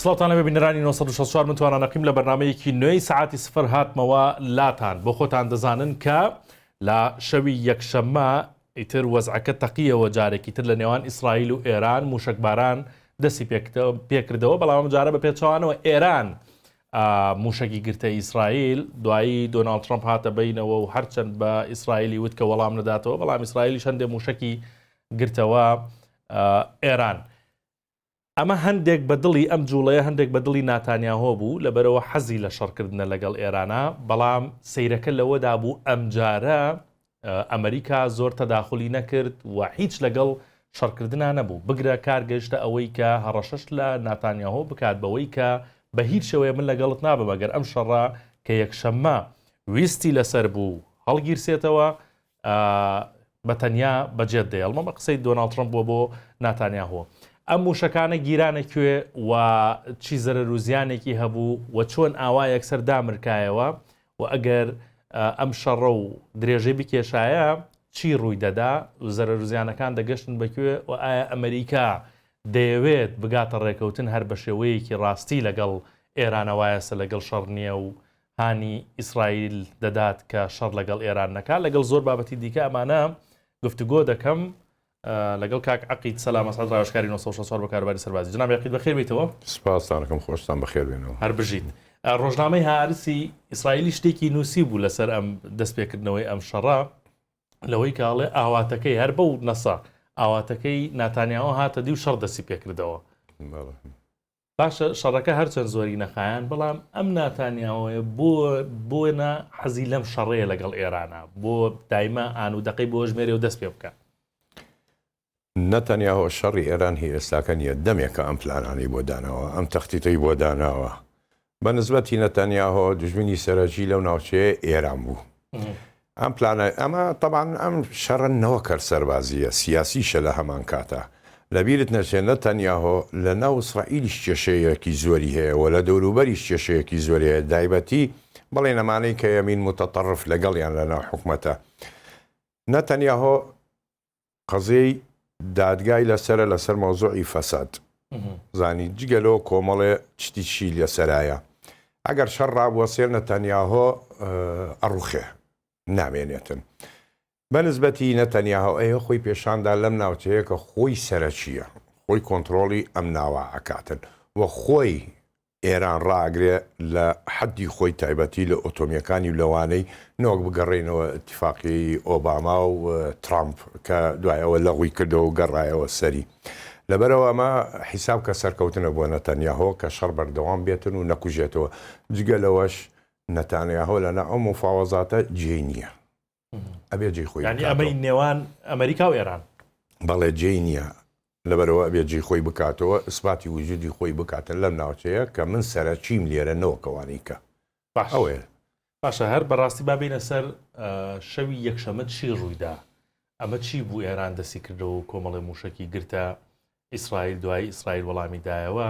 سڵاتانە بە بینەرانی 1964 من توانان نەقیم لە بەرنمەیەکی نوێی سعاتی سفر هاتمەوە لاتان بۆ خۆتان دەزانن کە لە شەوی یەکشەممە ئیتر وەزعەکە تەقیەوە جارێکی تر لە نێوان ئیسرائیل و ئێران موشکباران دەستی پێکردەوە بەڵام جارە بە پێچوانەوە ئێران مووشەکی گرتە ئیسرائیل، دوایی دۆناڵد ترەمپ هاتە بەینەوە و هەرچەند بە ئیسرائیلی وت کە وەڵام نەداتەوە، بەڵام ئیسرائیلیش هەندێک مووشەکی گرتەوە ئێران. ئەمە هەندێک بە دڵی ئەم جووڵەیە هەندێک بە دڵی ناتانیاهۆ بوو، لەبەرئەوە حەزی لە شەڕکردنە لەگەڵ ئێرانە، بەڵام سەیرەکە لەوەدا بوو ئەمجارە ئەمریکا زۆر تەداخولی نەکرد و هیچ لەگەڵ شەڕکردنا نەبوو، بگرە کار گەیشتە ئەوەی کە هەڕەشەش لە ناتانیاهۆ بکات بەوەی کە بە هیچ شێوەیە من لەگەڵت نابم ئەگەر ئەم شەڕە کە یەکشەممە ویستی لەسەر بوو هەڵگیرسێتەوە بە تەنیا بەجێت دێڵم ئەمە قسەی دۆناڵد ترەمپ بووە بۆ ناتانیاهۆ ئەم موشەکانە گیرانە کوێ و چی زەرەر و زیانێکی هەبوو و چۆن ئاوا یەکسەر دامرکایەوە و ئەگەر ئەم شەڕە و درێژەی بکێشایە چی ڕووی دەدا و زەرەروزیانەکان دەگەشتن بەکوێ و ئایا ئەمەریکا دەیەوێت بگاتە ڕێکەوتن هەر بە شێوەیەکی ڕاستی لەگەڵ ئێرانە وایەسە لەگەڵ شەڕ نییە و هانی ئیسرائیل دەدات کە شەڕ لەگەڵ ئێران نەکات لەگەڵ زۆر بابەتی دیکە ئەمانە گفتوگۆ دەکەم لەگەڵ کاک عەقید سەلام ئەسعەد ڕاوێژکاری نۆ سەد و شەست و چوار بۆ کاروباری سەربازی. جەناب عەقید بەخێر بێیتەوە. سپاستان ئەکەم خۆشتان بەخێر بێنەوە. هەر بژیت. ڕۆژنامەی هارسی ئیسرائیلی شتێکی نووسیبوو لەسەر ئەم دەستپێکردنەوەی ئەم شەڕە لەوەی کە ئەڵێ ئاواتەکەی هەر بەو نەسە ئاواتەکەی ناتانیاهۆ هاتە دی و شەڕ دەستی پێکردەوە. باشە شەڕەکە هەرچەند زۆری نەخایاند بەڵام ئەم ناتانیاهۆیە بۆ بۆ نا حەزی لەم شەڕەیە لەگەڵ ئێرانە بۆ دایمە ئان و دەقەی بۆ ژمێرێ و دەست پێ بکە. نەتەنیاهۆ شەڕی ئێران هی ئێستاکە نییە دەمێکە ئەم پلانانەی بۆ داناوە ئەم تەختیتەی بۆ داناوە بە نسبەتی نەتانیاهۆ دوژمنی سەرەکی لەو ناوچەیە ئێران بوو ئەم پلانە ئەمە تەبعەن ئەم شەڕە نەوەک هەر سەربازییە، سیاسیشە لە هەمان کاتا. لە بیرت نەچێ نەتانیاهۆ لە ناو ئیسرائیلیش کێشەیەکی زۆری هەیە و لە دەوروبەریش کێشەیەکی زۆری هەیە دایبەتی بڵێین ئەمانەی کە یەمین موتەتەڕف لەگەڵیان لە ناو حکومەتە نەتانیاهۆ قەزیەی دادگای لەسەرە لەسەر مەوزوعی فەساد زانی جگە لەوە کۆمەڵێ چتیشی لەسەرایە ئەگەر شەڕ ڕابووە سێر نەتەنیاهۆ ئەڕوخێ نامێنێتن بەنسبەتی نەتەنیاهۆ ئەیە خۆی پێشاندا لەم ناوچەیە کە خۆی سەرەکیە خۆی کۆنتترۆڵی ئەم ناوە ئەکاتن و خۆی ئێران ڕائەگرێ لە حەددی خۆی تایبەتی لە ئۆتۆمیەکانی و لەوانەی نەوەک بگەڕێینەوە ئیتیفاقیەی ئۆباما و ترامپ کە دوای ئەوە لەغوی کردەوە و گەڕایەوە سەری لەبەرئەوە ئەمە حیساب کە سەرکەوتنە بۆ نەتەنیاهۆ کە شەڕ بەردەوام بێتن و نەکوژێتەوە جگە لەوەش نەتانیاهۆ لەنا ئەو موفاوەزاتە جێی نیە. ئەبێ جێ خۆی ئەمەی نێوان ئەمریکا و ئێران بەڵێ جێ نییە لەبەرەوە ئەبێ جێ خۆی بکاتەوە ئسپاتی وجودی خۆی بکاتە لەم ناوچەیە کە من سەرچیم لێرە نەوەکەوانی کە ئەوێ باشە هەر بەڕاستی بابینە سەر شەوی یەکشەمە چی ڕوویدا ئەمە چی بوو ئێران دەستی کردەوە کۆمەڵی موشکی گرتە ئیسرائیل دوای ئیسرائیل وەڵامی دایەوە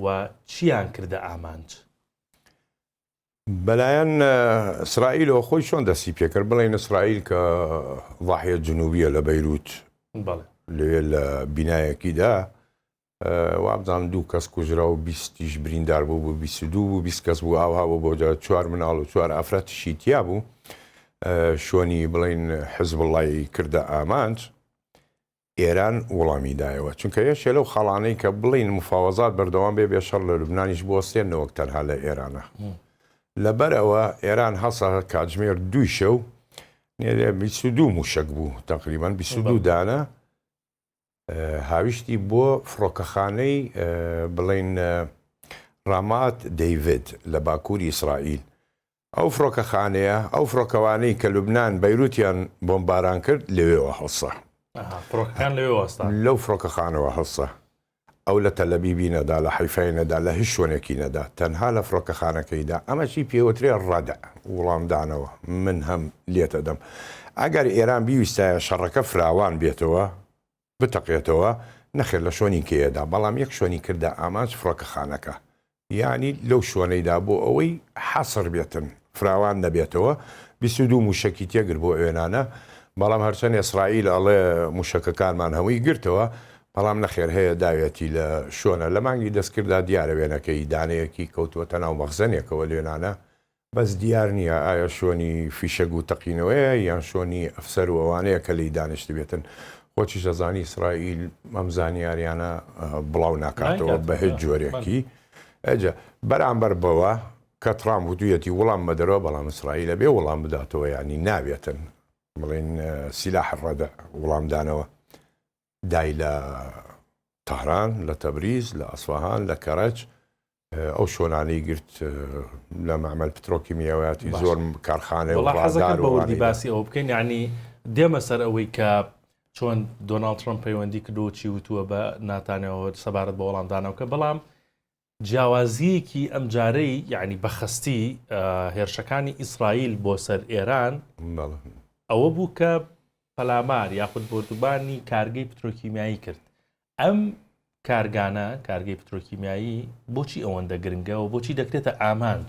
و چیان کردە ئامانج بەلایەن ئیسرائیلەوە خۆی چۆن دەستی پێکرد بڵێن ئیسرائیل کە ضاحیە جنوبیە لە بەیروت لەوێ لە بینایەکیدا وابزان دوو کەس کوژرا و بیستیش بریندار بوو بوو بیست دوو بوو بیست کەس بوو ئاوا بۆ بۆ چوار مناڵ و چوار ئافرەتشی تیا بوو شۆنی بڵین حزب وڵی کردە ئامانج ئێران وڵامی دایەوە، چونکە یەکێ لەو خاڵانەی کە بڵێین موفاوەزات بەردەوام بێ بێ شەڕ لە لوبنانیش بوەستێن نەوەک تەنها لە ئێرانە لەبەر ئەوە ئێران هەسا کاتژمێر دووی شەو نێرێ بیست و دوو موشەک بوو تەقریبەن بیست و دوو دانە هاویشتی بۆ فڕۆکەخانەی بڵێن ڕامات دەیڤێت لە باکووری ئیسرائیل ئەو فڕۆکەخانەیە، ئەو فڕۆکەوانەی کە لوبنان، بەیروتیان بۆمباران کرد، لەوێوە هەڵسا. ئەها، فڕۆکەکان لەوێوە هەستان. لەو فڕۆکەخانەوە هەڵسا. ئەو لە تەلەبیبی نەدا، لە حەیفای نەدا، لە هیچ شوێنێکی نەدا، تەنها لە فڕۆکەخانەکەی دا. ئەمەشی پێوترێ ڕەدع، وڵامدانەوە. من هەم لێتەدەم. ئەگەر ئێران بیویستایە شەڕەکە فراوان بێتەوە، بتەقێتەوە، نەخێر لە شۆنیکەیەدا، بەڵام یەک شۆنی کردە ئامانج فڕۆکەخانەکە، یانی لەو شۆنەیدا بۆ ئەوەی حەسر بێتن، فراوان نەبێتەوە، بیست و دوو مووشەکی تێگرت بۆ ئەوێنانە، بەڵام هەرچەند ئێسڕائیل ئەڵێ مووشەکەکانمان هەمووی گرتەوە، بەڵام نەخێر هەیە داوێتی لە شۆنە، لە مانگی دەستکرددا دیارە وێنەکەی دانەیەکی کەوتووەتە ناو مەخزەنێکەوە لوێنانە، بەس دیار نیە ئایا شۆنی فیشەک و تەقینەوەیە یان شۆنی ئەفسەر و ئەوانەیە کە لێی دانیشتبێتن خۆتیش ئەزانی ئیسرائیل ئەم زانیاریانە بڵاو ناکاتەوە بە هێچ جۆرێکی ئەجا بەرامبەر بەوە کە ترامپ وتویەتی وڵام مەدەرەوە بەڵام ئیسرائیلە بێ وڵام بداتەوە یانی ناوێتن بڵێن سیلاح ڕەدە وڵامدانەوە دای لە تەهران، لە تەبریز، لە ئەسفەهان، لە کەرەج ئەو شۆنانەی گرت لە مەعمەل پترۆکیمیاویاتی زۆر کارخانەی وڵازار وڵی باسی ئەو بکەین ینی دێمە سەر ئەوەی کە چۆن دۆناڵد ترمپ پەیوەندی کردو چی وتووە بە ناتانەوە سەبارەت بە وەڵامدانەوەکە بەڵام جیاوازییەکی ئەمجارەی یەعنی بەخەستی هێرشەکانی ئیسرائیل بۆ سەر ئێران ئەوە بوو کە پەلامار یاخود بۆردوبانی کارگەی پترۆکیمیایی کرد ئەم کارگانە کارگەی پترۆکیمیایی بۆچی ئەوەندە گرنگەوە بۆچی دەکرێتە ئامانج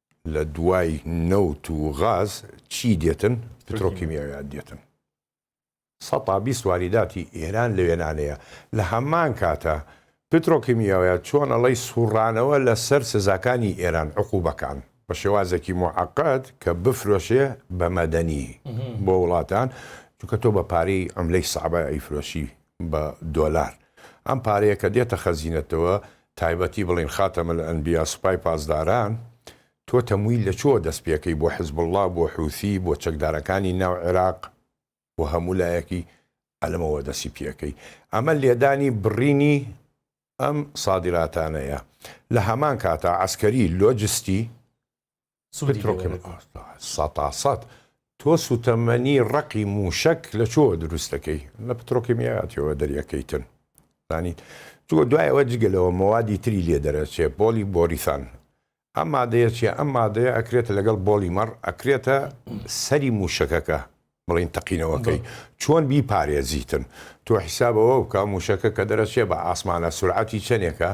لە دوای نەوت و غاز چی دێتن؟ پترۆکیمیایات دێتن. سە تا بیست واریداتی ئێران لەوێنانەیە. لە هەمان کاتا پترۆکیمیایات چۆن ئەڵێی سوڕانەوە لە سەر سزاکانی ئێران، عقوبەکان، بە شێوازێکی موعەقەد کە بفرۆشێ بە مەدەنی بۆ وڵاتان، چونکە تۆ بە پارەی عملەی سەعبە ئەیفرۆشی بە دۆلار ئەم پارەیە کە دێتە خەزینەتەوە تایبەتی بڵێن خاتەم الانبیا سوپای پاسداران تۆ تەمویل لە چۆوە دەست پێکەی بۆ حزبوڵا بۆ حوسی بۆ چەکدارەکانی ناو عێراق بۆ هەموو لایەکی ئەلەمەوە دەسی پێکەی ئەمە لێدانی بڕینی ئەم سادراتانەیە لە هەمان کاتا عەسکەری لۆجستی سودی لێ وەرە گرە. سەتاسەت تۆ سوتەمەنی ڕەقی موشەک لە چۆوە دروست دەکەی لە پترۆکیمیاتیەوە دەریەکەیتن زانیت جوە دوایەوە جگە لەوە مەوادی تری لێ دەرەچێ بۆلی بۆریسان ئەم مادەیە چیە ئەم مادەیە ئەکرێتە لەگەڵ بۆلی مەڕ ئەکرێتە سەری موشەکەکە بڵین تەقینەوەکەی چۆن بی پارێزیتن تۆ حیسابەوە بکە موشەکە کە دەرەچێ بە ئاسمانە سورعەتی چەنێکە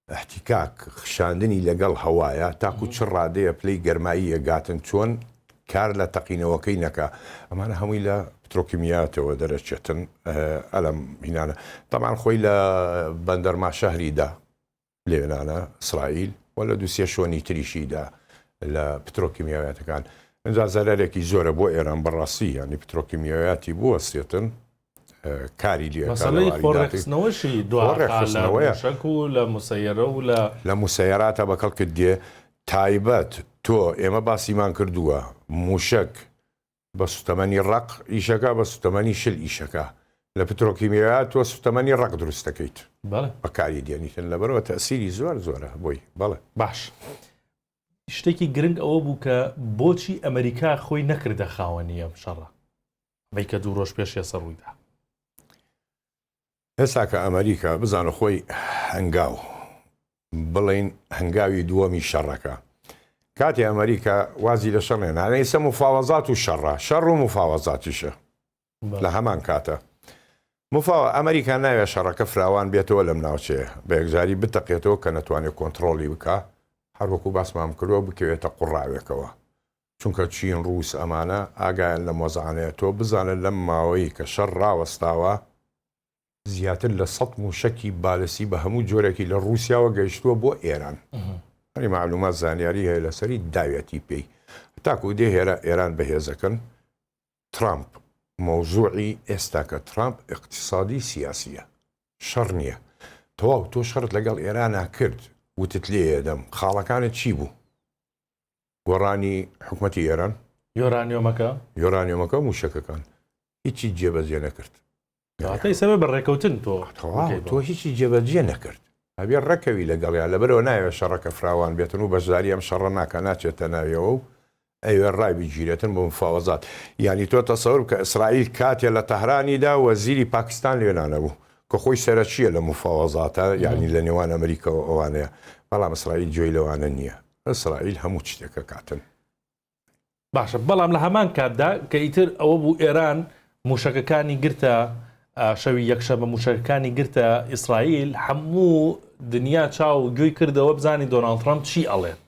احتکاک، خشاندنی لەگەڵ هەوایە تاکو چ ڕادەیە پلەی گەرمایی ئەگاتن چۆن کار لە تەقینەوەکەی نەکا ئەمانە هەمووی لە پترۆکیمیاتەوە دەرەچێتن ئەلەم هینانە تەمان خۆی لە بەندەر ماشەهریدا لێنانە ئیسرائیل و لە دوسیە شۆنی تریشیدا لە پترۆکیمیاواتەکان ئەجا زەرەرێکی زۆرە بۆ ئێران بەڕاستی یانی پترۆکیمیاواتی بوەستێتن کاری لێ مەسەلەی خۆ ڕێکخستنەوەشی دوا ڕێکخستنەوەیە شەک و لە مسەیەرە و لە لە مسەیەراتە بەکەڵ کرد دێ تایبەت تۆ ئێمە باسیمان کردووە موشک بە سوتەمەنی ڕق ئیشەکە بە سوتەمەنی شل ئیشەکە لە پترۆکیمیا تۆ سوتەمەنی ڕق دروست دەکەیت بەکاری دێنیتن لەبەرەوە تەسیری زۆر زۆرە بۆی بەڵێ باش. شتێکی گرنگ ئەوە بوو کە بۆچی ئەمریکا خۆی نەکردە خاوەنی ئەم شەڕە ی کە دوو رۆژ پێش یەسە روویدا. ئێستا کە ئەمەریکا بزانە خۆی هەنگاو بڵێن هەنگاوی دووەمی شەڕەکە کاتی ئەمەریکا وازی لە شەڕێ نانە ئیسە مفاوەزات و شەڕە شەڕ و مفاوەزاتیشە لە هەمان کاتە مفاوە ئەمریکا ناوێ شەڕەکە فراوان بێتەوە لەم ناوچەیە بە یەکجاری بتەقێتەوە کە نەتوانێت کۆنتترۆلی بکە هەروەکو باسمام کردوە بکەوێتە قوڕاوێکەوە چونکە چین ڕووس ئەمانە ئاگایان لەم وەزعانەیە تۆ بزانە لەم ماوەی کە شەڕ ڕاوەستاوە زیاتر لە سەد مووشەکی بالستی بە هەموو جۆرێکی لە ڕووسیاوە گەیشتووە بۆ ئێران ئەنی مەعلوومات زانیاری هەیە لەسەری داوێتی پێی تاکو دێ هێرا ئێران بەهێزەکەن ترامپ مەوزووعی ئێستاکە ترامپ ئیقتیسادی سیاسیە شەڕ نیە تەواو تۆ شەڕت لەگەڵ ئێرانا کرد وتت لێیەدەم خاڵەکانت چی بوو؟ گۆڕانی حکومەتی ئێران، یۆرانیۆمەکە یۆرانیۆمەکە و مووشەکەکان هیچی جێبەجێ نەکرد. کەواتە ئیستا بێ بە ڕێکەوتن تۆ تەواو بکەی بۆ. تۆ هیچی جێبەجێ نەکرد. ئەبێ ڕێکەوی لەگەڵیان، لەبەرئەوە نایەوێ شەڕەکە فراوان بێتن و بەشداری ئەم شەڕە ناکا، ناچێتە ناویەوە و ئەیەوێ ڕای بگیرێتن بۆ مفاوەزات. یانی تۆ تەسەور بکە ئیسرائیل کاتێ لە تەهرانی دا وەزیری پاکستان لوێ نانەبوو، کە خۆی سەرەکییە لە مفاوەزاتە، یانی لە نێوان ئەمریکا و ئەوانەیە، بەڵام ئیسرائیل گوێی لەوانە نییە. ئیسرائیل هەموو شتێک ئەکاتن. باشە بەڵام لە هەمان کاتدا کە ئیتر ئەوە بوو ئێران موشەکەکانی گرتە شەوی یەکشە بە موشەکەکانی گرتە ئیسرائیل هەموو دنیا چاو و گوێی کردەوە بزانانی دۆناالد ترامپ چی ئەڵێت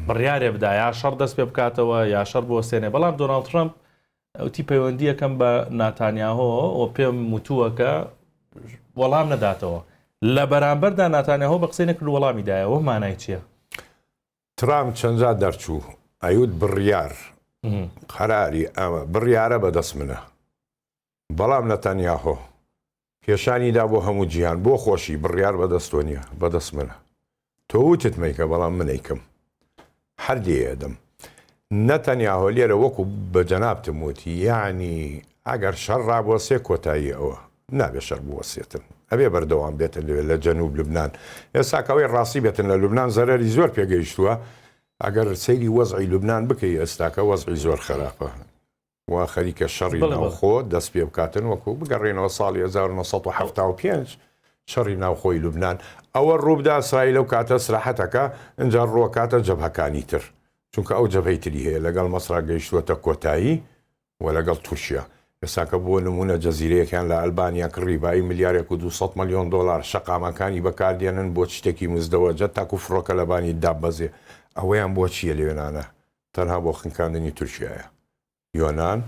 بڕیارێ بدا یا شەڕ دەست پێ بکاتەوە یا شەر بۆ سێنێ بەڵام دۆناالد ترامپ وتی پەیوەندییەکەم بە ناتانیاهۆ و پێم وتووە کە وەڵام نەداتەوە لە بەرامبەردا ناتانیاهۆ بە قسەی نەکرد وەڵامی دایەوە مانای چییە؟ ترامپ چەندجا دەرچوو ئەیوت بڕیار قەراری ئەوە بڕیارە بەدەست منە بەڵام نەتانیاهۆ پیشانی دا بۆ هەموو جیهان. بۆ خۆشی، بڕیار بە دەست تۆ نیە، بە دەست منە. تۆ وتت مەیکە، بەڵام من ئەیکەم. هەر لێی ئەدەم. نە تەنیا هۆلێرە وەکو بە جەنابتم وت، یەعنی ئەگەر شەڕ ڕابوەسێ کۆتایی ئەوە. نابێ شەر بوەسێتن. ئەبێ بەردەوام بێتن لەوێ لە جەنوب لوبنان. ئێستا کە ئەوەی ڕاستی بێتن لە لوبنان زەرەری زۆر پێ گەیشتوە. ئەگەر سەیری وەزعی لوبنان بکەی ئێستاکە وەزعی زۆر خەراپە. و خەریکە شەڕی ناوخۆ دەست پێ بکاتن وەکو بگەڕێنەوە ساڵی 1975 شەڕی ناوخۆی لوبناان ئەوە ڕووبدا سرای لەو کاتە سراحەتەکە ئەجا ڕووەکاتە جەبهەکانی تر چونکە ئەو جەبهەی تری هەیە لەگەڵ مەسرا گەیشتووەتە کۆتایی و لەگەڵ تورکیا ئێساکە بۆ نمونە جەزیرەیەکیان لە ئەلبانیا کڕی بای ملیارێک و 200 ملیۆن دلار شەقامەکانی بەکاردێنن بۆ شتێکی مزدەوەجە تاکو فڕۆکە لەبانی دابەزێ ئەوەیان بۆ چییە لەوێنانە تەنها بۆ خنکاندنی تورکیایە یۆنان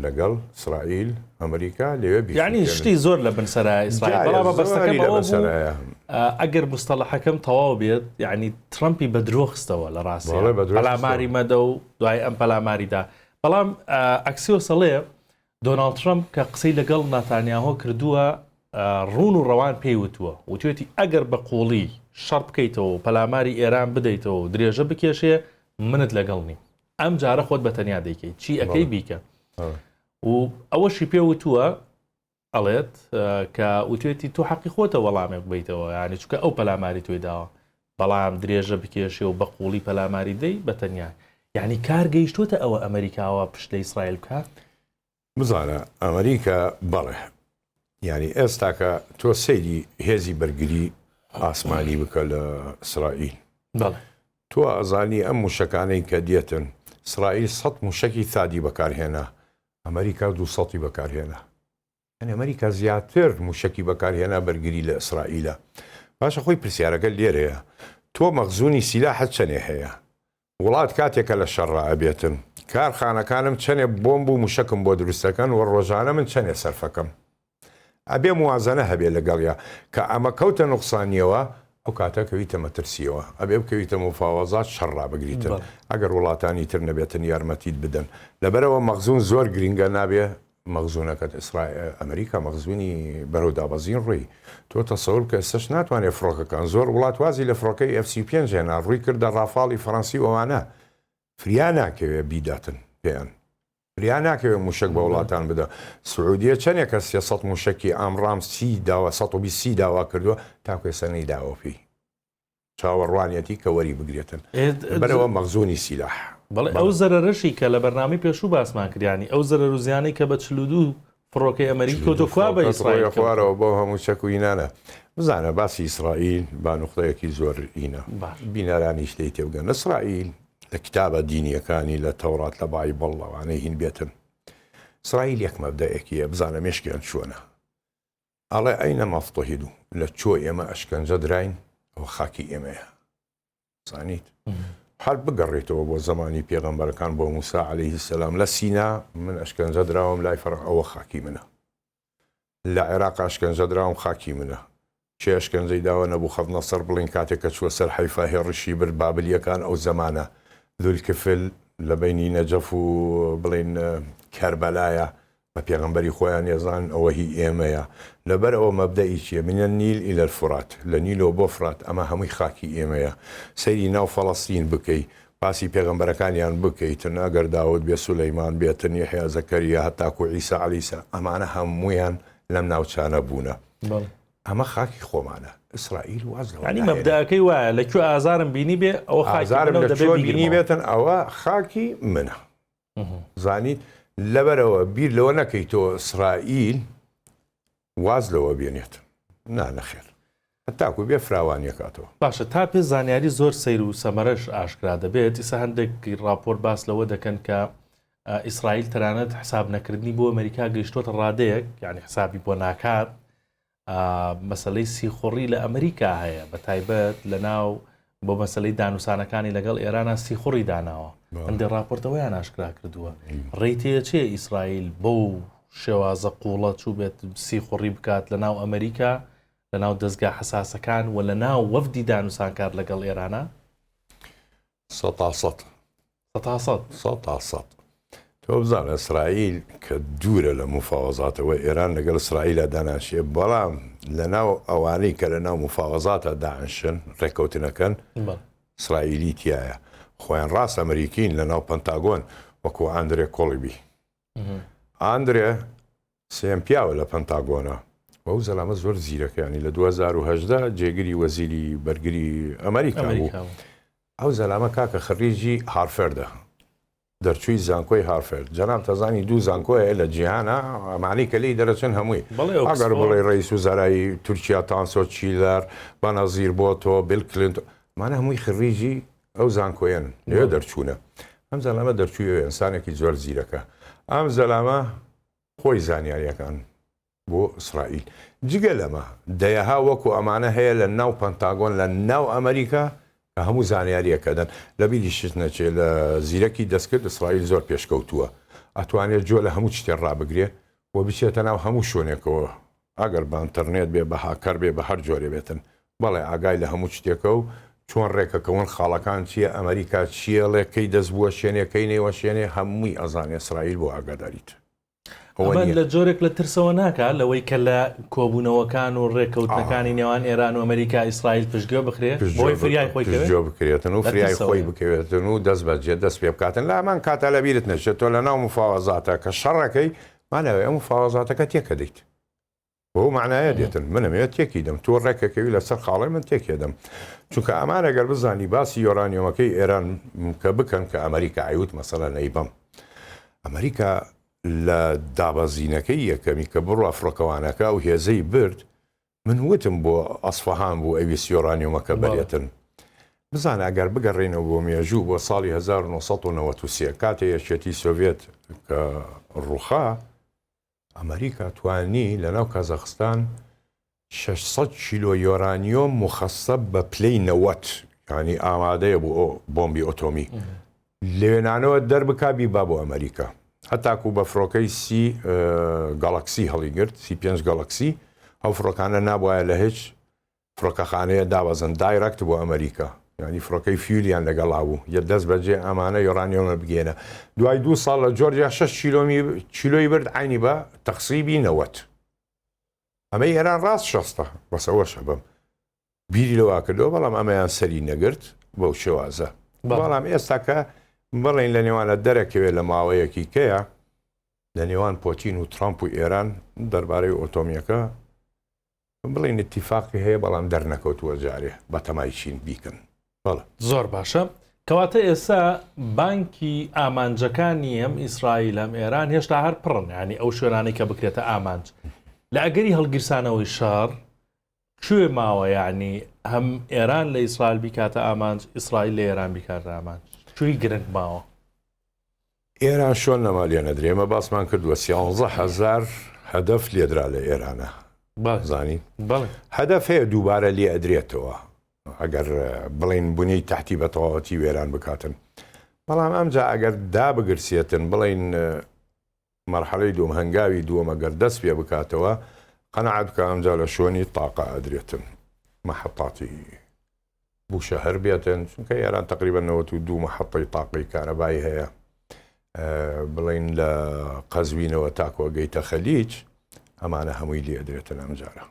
لەگەڵ سرائیل ئەمریکا لەوێ بیکەن یانی شتی زۆر لە بنسەرایە ئیسرائیل بەڵام مەبەستەکەم لە بنسەرایە ئەگەر مستەڵەحەکەم تەواو بێت یعنی ترەمپی بە درۆ خستەوە لە ڕاستی پەلاماری مەدە و دوای ئەم پەلاماریدا بەڵام ئەکسیۆسەڵێ دۆناڵد ترەمپ کە قسەی لەگەڵ ناتانیاهۆ کردووە، ڕوون و ڕەوان پێی وتووە، وتوێتی ئەگەر بە قووڵی شەڕ بکەیتەوە و پەلاماری ئێران بدەیتەوە و درێژە بکێشێ، منت لەگەڵ نیم. ئەم جارە خۆت بە تەنیا دەیکەی. چی ئەکەی بیکە. و ئەوەشی پێ وتووە، ئەڵێت، کە وتوێتی تۆ حەقی خۆتە وەڵامێک بەیتەوە، یانی چونکە ئەو پەلاماری تۆی داوە. بەڵام درێژە بکێشێ و بە قووڵی پەلاماری دەی بە تەنیا یانی کار گەیشتۆتە ئەوە ئەمەریکا وا پشت لە ئیسرائیل بکات؟ بزانە ئەمەریکا بەڵێ یانی ئێستاکە تۆ سەیری هێزی بەرگری ئاسمانی بکە لە ئیسرائیل بەڵێ تۆ ئەزانی ئەم موشەکانەی کە دێتن ئیسرائیل سەد موشەکی ثادی بەکارهێنا ئەمەریکا دوو سەتی بەکارهێنا ئەمریکا زیاتر موشەکی بەکارهێنا بەرگری لە ئیسرائیلە باشە خۆی پرسیارەکە لێرەیە تۆ مەخزونی سیلاحت چەنێ هەیە وڵات کاتێک کە لە شەڕا ئەبێتم کار خانەکانم چەنێ بۆمب و موشەکم بۆ دروستەکەن وە ڕۆژانە من چەنێ سەرفەکەم ئەبێ موازەنە هەبێ لەگەڵیا کە ئەمە کەوتە نوقسانیەوە ئەو کاتە کەویتە مەترسیەوە ئەبێ بکەویتە مفاوەزات شەڕا بگریتن ئەگەر وڵاتانی تر نەبێتن یارمەتیت بدەن لەبەرەوە مەخزون زۆر گرینگە نابێ مەخزونەکەت ئیسرا ئەمریکا مەخزونی بەرەو دابەزین ڕوی تۆ تەسەور بکە ئێستەش ناتوانێ فڕۆکەکان زۆر وڵات وازی لە فڕۆکەی ئێف سی پێنج هێنا ڕوی کردە ڕافاڵی فەڕەنسی و ئەوانە فریا ناکەوێ بیداتن پێیان فریا ناکەوێ موشەک بە وڵاتان بدە سعودیە چەندێکە سێ سەد موشەکی ئامڕام سی داوا سەد و بیست سی داوا کردووە تاکو ئێستا نەیداوە پێی چاوەڕوانیەتی کە وەری بگرێتن لەبەرئەوە مەخزونی سیلاح. بەڵێ ئەو زەرەرەشی کە لە بەرنامەی پێشوو باسمان کرد یانی ئەو زەرەر و زیانەی کە بە چل و دوو فڕۆکەی ئەمەریکی کەوتووە کوا بە ئیسرائیل کەوتووە؟ ڕۆیە خوارەوە بۆ هەموو چەک و ئینانە بزانە باسی ئیسرائیل با نوقطەیەکی زۆر ئینە باش. بینەرانیش لێی تێبگەن ئیسرائیل لە کتابە دینییەکانی لە تەوڕات لە بایبڵ لەوانەی هین بێتن ئیسرائیل یەک مەبدەئێکی هەیە بزانە مێشکیان چۆنە ئەڵێ ئەی نە مەفتوحی دوو لە چۆ ئێمە ئەشکەنجە دراین ئەوە خاکی ئێمەیە زانیت هەر بگەڕێتەوە بۆ زەمانی پێغەمبەرەکان بۆ موسا عليهەیهی سەسلام لە سینا من ئەشکەنجە دراوم لای فەڕ ئەوە خاکی منە لە عێراق ئەشکەنجە دراوم خاکی منە چێ ئەشکەنجەی داوە نەبوو خەت نەسەر بڵین کاتێک کە چووە سەر حیفا هێڕشی بر بابلیەکان ئەو زمانە دولکفل لە بینی نەجەف و بڵین کەربەلایە بە پێغەمبەری خۆیان ئێزانن ئەوە هی ئێمەیە، لەبەر ئەوە مەبدەئی چییە، من النیل الی الفرات، لە نیلەوە بۆ فرات، ئەمە هەمووی خاکی ئێمەیە، سەیری ناو فەڵەستین بکەی، باسی پێغەمبەرەکانیان بکەیتن، ئەگەر داود بێت، سولەیمان بێتن، یەحیا، زەکەریا، هەتاکوو عیسا علیسا، ئەمانە هەموویان لەم ناوچانە بوونە، ئەمە خاکی خۆمانە، ئیسرائیل واز لەوە ناهێنێت. یانی مەبدەئەکەی وایە، لە کوێ ئازارم بینیبێ، ئەوە خاکی منە و دەبێ بیگرمەوە. ئازارم لە کوێ بینیبێتن، ئەوە خاکی منە. زانیت لەبەرئەوە بیر لەوە نەکەی تۆ ئیسرائیل واز لەوە بێنێت نا نەخێر هەتاکو بێ فراوانیەکاتەوە. باشە تا پێ زانیاری زۆر سەیر و سەمەرەش ئاشکرا دەبێت ئیسە هەندێک ڕاپۆرت باس لەوە دەکەن کە ئیسرائیل تەنانەت حساب نەکردنی بۆ ئەمریکا گەیشتۆتە ڕادەیەک یعنی حسابی بۆ ناکات مەسەلەی سیخوڕی لە ئەمریکا هەیە بە تایبەت لە ناو بۆ مەسلەی دانوسانەکانی لەگەڵ ئێرانە سیخوڕی داناوە هەندێ راپۆرتەوەیان ناشکرا کردووە ڕێتێچێ ئیسرائیل بۆ و شێوازە قوڵە چوو بێت سیخوڕی بکات لە ناو ئەمریکا لە ناو دەستگا حساسەکان و لە ناو وەفدی دانوسانکار لەگەڵ ئێرانە سەتا سەت. سەتا سەت. سەتا سەت. تۆ بزانە ئیسرائیل کە دوورە لە موفاوەزاتەوە ئێران لەگەڵ ئیسرائیلە داناشێ بەڵام لەناو ئەوانەی کە لە ناو موفاوەزاتە داعشن ڕێککەوتنەکەن ئیسرائیلی تایە خۆیان ڕاست ئەمریکین لە ناو پەنتاگۆن وەکو ئەندرێ کۆڵیبی. ئاندرێ سێم پیاوە لە پەنتاگۆنە بەو زەلامە زۆر زیرەکەیانی لە 2010 جێگری وەزیری بەرگری ئەمریکا بوو ئەو زەلامە کاکە خەریجی هارفێردە دەرچووی زانکۆی هارفرد جەناب تەزانی دوو زانکۆیە لە جیهانە ئەمانی کە لی دەرەچن هەمووی ئەگەر بڵێ ڕیس و زەرایی تورکیا تانسۆ چیلەر بەنەزیر بۆ تۆ بلکلنت مانە هەمووی خریجی ئەو زانکۆیەن نوێ دەرچوونە ئەم زەلامە دەرچووی ئەنسانێکی زۆر زیرەکە ئەم زەلامە خۆی زانیاریەکان بۆ ئیسرائیل جگە لەمە دەیەها وەکو ئەمانە هەیە لە ناو پەنتاگۆن لە ناو ئەمریکا کە هەموو زانیاریەکەدەن لە بیری شت نەچێت لە زیرەکی دەستکرد ئیسرائیل زۆر پێشکەوتووە ئەتوانێت جۆ لە هەموو شتێ ڕابگرێ و بچێتە ناو هەموو شوێنێکەوە ئەگەر بە ئنترنێت بێ بە هاکەر بێ بە هەر جۆرێ بێتن بەڵێ ئاگای لە هەموو شتێکە و چۆن ڕێکەکەون خاڵەکان چیە ئەمەریکا چی ئەڵێ کەی دەست بوەشێنێ کەی نەیوەشێنێ هەمووی ئەزانێ ئیسرائیل بۆ ئاگاداریت ئەوە ئەمە نیە. لە جۆرێک لە ترسەوە ناکا لەوەی کە لە کۆبوونەوەکان و ڕێکەوتنەکانی ئا. نێوان ئێران و ئەمەریکا ئیسرائیل پشتگوێ بخرێ بەوەی پشتگوێ فریای خۆی کەوێ؟ پشتگوێ بکرێتن و لە فریای خۆی ترسەوەیە. بکەوێتن و دەست بەجێ دەست پێ بکاتن لە هەمان کاتا لە بیرت نەچێ تۆ لە ناو مفاوەزاتە کە شەڕەکەی ماناوی ئەو مفاوەزاتەکە تێکەدەیت. بەو مەعنایە دێتن منم ئێ تێکی دەم تۆ ڕێکەکەوی لەسەر خاڵێ من تێکێ دەم چونکە ئەمان ئەگەر بزانی باسی یۆرانیۆمەکەی ئێران کە بکەن کە ئەمریکا عیوت مەسەلە نەیبم ئەمریکا لە دابەزینەکەی یەکەمی کە بڕوا فڕۆکەوانەکە و هێزەی برد من وتم بۆ ئەسفەهان بوو ئەویست یۆرانیۆمەکە بەرێتن. بزانە ئەگەر بگەڕێنەوە بۆ مێژوو بۆ ساڵی 1993 کاتێ یەکێتی سۆڤێت کە ڕوخا ئەمریکا توانی لەناو کازاخستان 600 کیلۆ یۆرانیۆم مخەسەب بە پلەی نەوەت ینی ئامادەیە بۆ بۆمبی ئۆتۆمی لەوێنانەوە دەربکا بیبا بۆ ئەمەریکا هەتاکو بە فڕۆکەی سی گەڵەکسی هەڵیگرت سی پێنج گەڵەکسی ئەو فڕۆکانە نابواە لە هیچ فڕۆکەخانەیە دابەزن دایرەکت بۆ ئەمەریکا ینی فڕۆکەی فیولیان لەگەڵا بوو یە دەست بەجێ ئەمانە یۆرانیۆمە بگێنە دوای دو ساڵ لە جۆرجیا 6 کیلۆمی کیلۆی برد عینی بە تەخسیبی نەوەت ئەمە ئێران ڕاست شەستە بەسەوەشە بم بیری لەوە کردەوە بەڵام ئەمەیان سەری نەگرت بەو شێوازە بەڵام ئێستاکە بڵین لە نێوانە دەرەکەوێت لە ماوەیەکی کەیە لە نێوان پۆتین و ترامپ و ئێران دەربارەی ئۆتۆمیەکە بڵین اتفاقی هەیە بەڵام دەرنەکەوتووە جارێ بە تەمای چین بیکەن بەڵە زۆر باشە کەواتە ئێستا بانکی ئامانجەکانی ئەم ئیسرائیل ئەم ئێران هێشتا هەر پڕن ینی ئەو شوێنانی کە بکرێتە ئامانج لە ئەگەری هەڵگیرسانەوەی شار کوێ ماوە یەعنی هەم ئێران لە ئیسرائیل بیکاتە ئامانج ئیسرائیل لە ئێران بیکاتە ئامانج کوێی گرنگ ماوە؟ ئێران شۆن نەما لێ نەدرێ ئێمە باسمان کردووە سیانزە هەزار هەدەف لێدرا لە ئێرانە زانی هەدەف هەیە دووبارە لێ ئەدرێتەوە ئەگەر بڵین بوونی تحتی بە تەواوەتی وێران بکاتن بەڵام ئەمجا ئەگەر دابگرسێتن بڵین مەرحەلەی دووەم، هەنگاوی دووەم ئەگەر دەست پێ بکاتەوە قەناعەت بکە ئەمجا لە شوێنی تاقە ئەدرێتن محطاتی بوشەهر بێتن چونکە ئێران تقریبا نەوەت و دوو محطەی تاقەی کارەبای هەیە بڵین لە قەزوینەوە تاکۆ گەیتە خەلیج ئەمانە هەمووی لێدرێتن ئەمجارە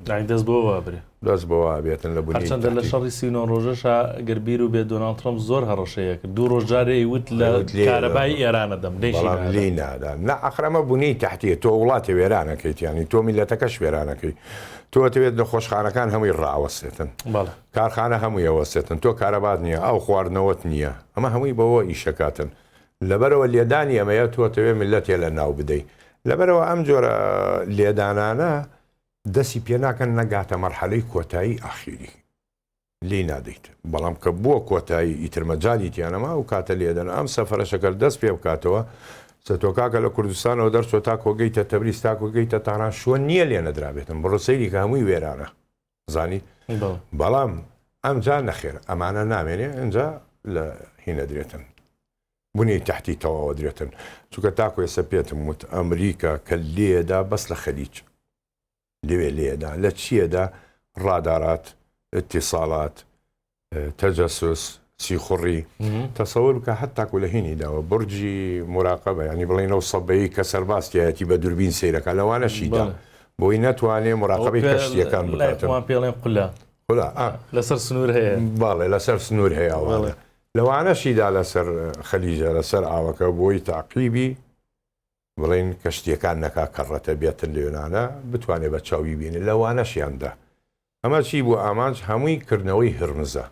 یانی دەست بەوە وابرێ. دەست بەوە وابێتن لە بنی تەحریک. هەرچەندە لە شەڕی سی و نۆ ڕۆژەشا گەر بیر بێت دۆناڵد ترەمپ زۆر هەڕەشەیە کرد دوو ڕۆژ جارێ ئەیوت لە کارەبای ئێرانە دەم بەڵام لێی نادا نا ئەخر ئەمە بنی تەحتیە تۆ وڵاتی وێرانەکەیت یانی تۆ میلەتەکەش وێرانەکەی تۆ دەوێت نەخۆشخانەکان هەمووی ڕاوەستێتن کارخانە هەمووی ئەوەستێتن تۆ کارەبات نییە ئەو خواردنەوەت نییە ئەمە هەمووی بەوە ئیشەکاتن لەبەرئەوە لێدانی ئەمەیە تۆ ئەتەوێ میللەتێ لە ناو بدەی لەبەرئەوە ئەم جۆرە لێدانانە دەسی پێ ناکەن نەگاتە مەرحەلەی کۆتایی ئاخیری لی نادەیت بەڵام کە بووە کۆتایی ئیترمەجای تیانەما ئەو کاتە لێدەن ئەم سەفرەشەکەل دەست پێ بکاتەوە سەتۆکاکە لە کوردستانەوە دەرچۆ تا کۆگەیتە تەبریز تا کۆگەیتە تاران شوە نییە لێ نەدرابێتن بڕۆ سەیری کە هەمووی وێرانە زانی بەڵام ئەمجا نەخێر ئەمانە نامێنێ ئەجا لە هینەدرێتن بنی تحتی تەواوە درێتن چونکە تاکو ێسە پێتم وت ئەمریکا کە لێدا بەس لە خەلیج لەوێ لێدا لە چیەدا ڕادارات اتصالات تەجەسوس، سیخوڕی، تەسەور بکە هەتاکو لە هینی داوە بڕجی موراقەبە ینی بڵێ نەو سەدەیی کە سەرباز تیایەتی بە دوربین سەیرەکە لەوانەشیدا بۆی نەتوانێ موراقەبی کەشتیەکان بکاتەوە پێڵێن قلە لەسەر سنوور هەیە باڵێ لەسەر سنوور هەیە وڵێ لەوانەشیدا لەسەر خەلیجە لەسەر ئاوەکە بۆی تاقیبی بڵین کەشتیەکان نەکا کەڕەتە بێتن لێنانە بتوانێت بە چاوی بینێ لەوانەشیاندا ئەمە چی بوو ئامانج هەمووی کردنەوەی هرمزە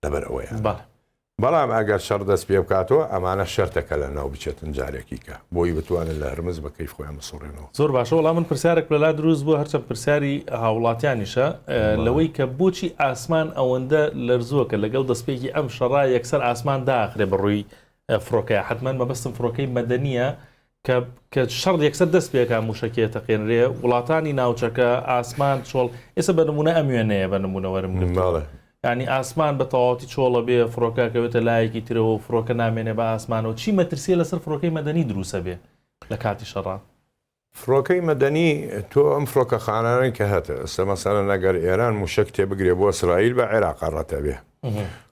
لەبەر ئەوەیان بەڵێ. بەڵام ئەگەر شەڕ دەست پێ بکاتەوە ئەمانە شەرتە کە لە ناو بچێتن جارێکی کە بۆی بتوانن لە هرمز بە کەیف خۆیان بسوڕێنەوە. زۆر باشە وەڵا من پرسیارێک لە لا دروست بووە هەرچەند پرسیاری هاوڵاتیانیشە لەوەی کە بۆچی ئاسمان ئەوەندە لەرزووە کە لەگەڵ دەستپێکی ئەم شەڕا یەکسەر ئاسمان داخرێ بە ڕووی فڕۆکەیە حەتمەن مەبەستم فڕۆکەی مەدەنیە کە کە شەڕ یەکسەر دەست پێکا موشەکیە تەقێنرێ وڵاتانی ناوچەکە ئاسمان چۆڵ ئێستا بە نمونە ئەم وێنەیە بە نمونە وەرم گرتڵێ ینی ئاسمان بە تەواتی چۆڵە بێ فڕۆکەکەوێتە لایەکی ترەوە و فڕۆکە نامێنێ بە ئاسمانەوە چی مەترسیە لەسەر فڕۆکەی مەدەنی دروسە بێ لە کاتی شەڕا فڕۆکەی مەدەنی تۆ ئەم فڕۆکە خانانەی کە هەتە ئەسە مەسەرە نەگەر ئێران موشک تێبگرێ بۆ سرائیل بە عێراق ڕەتەبێ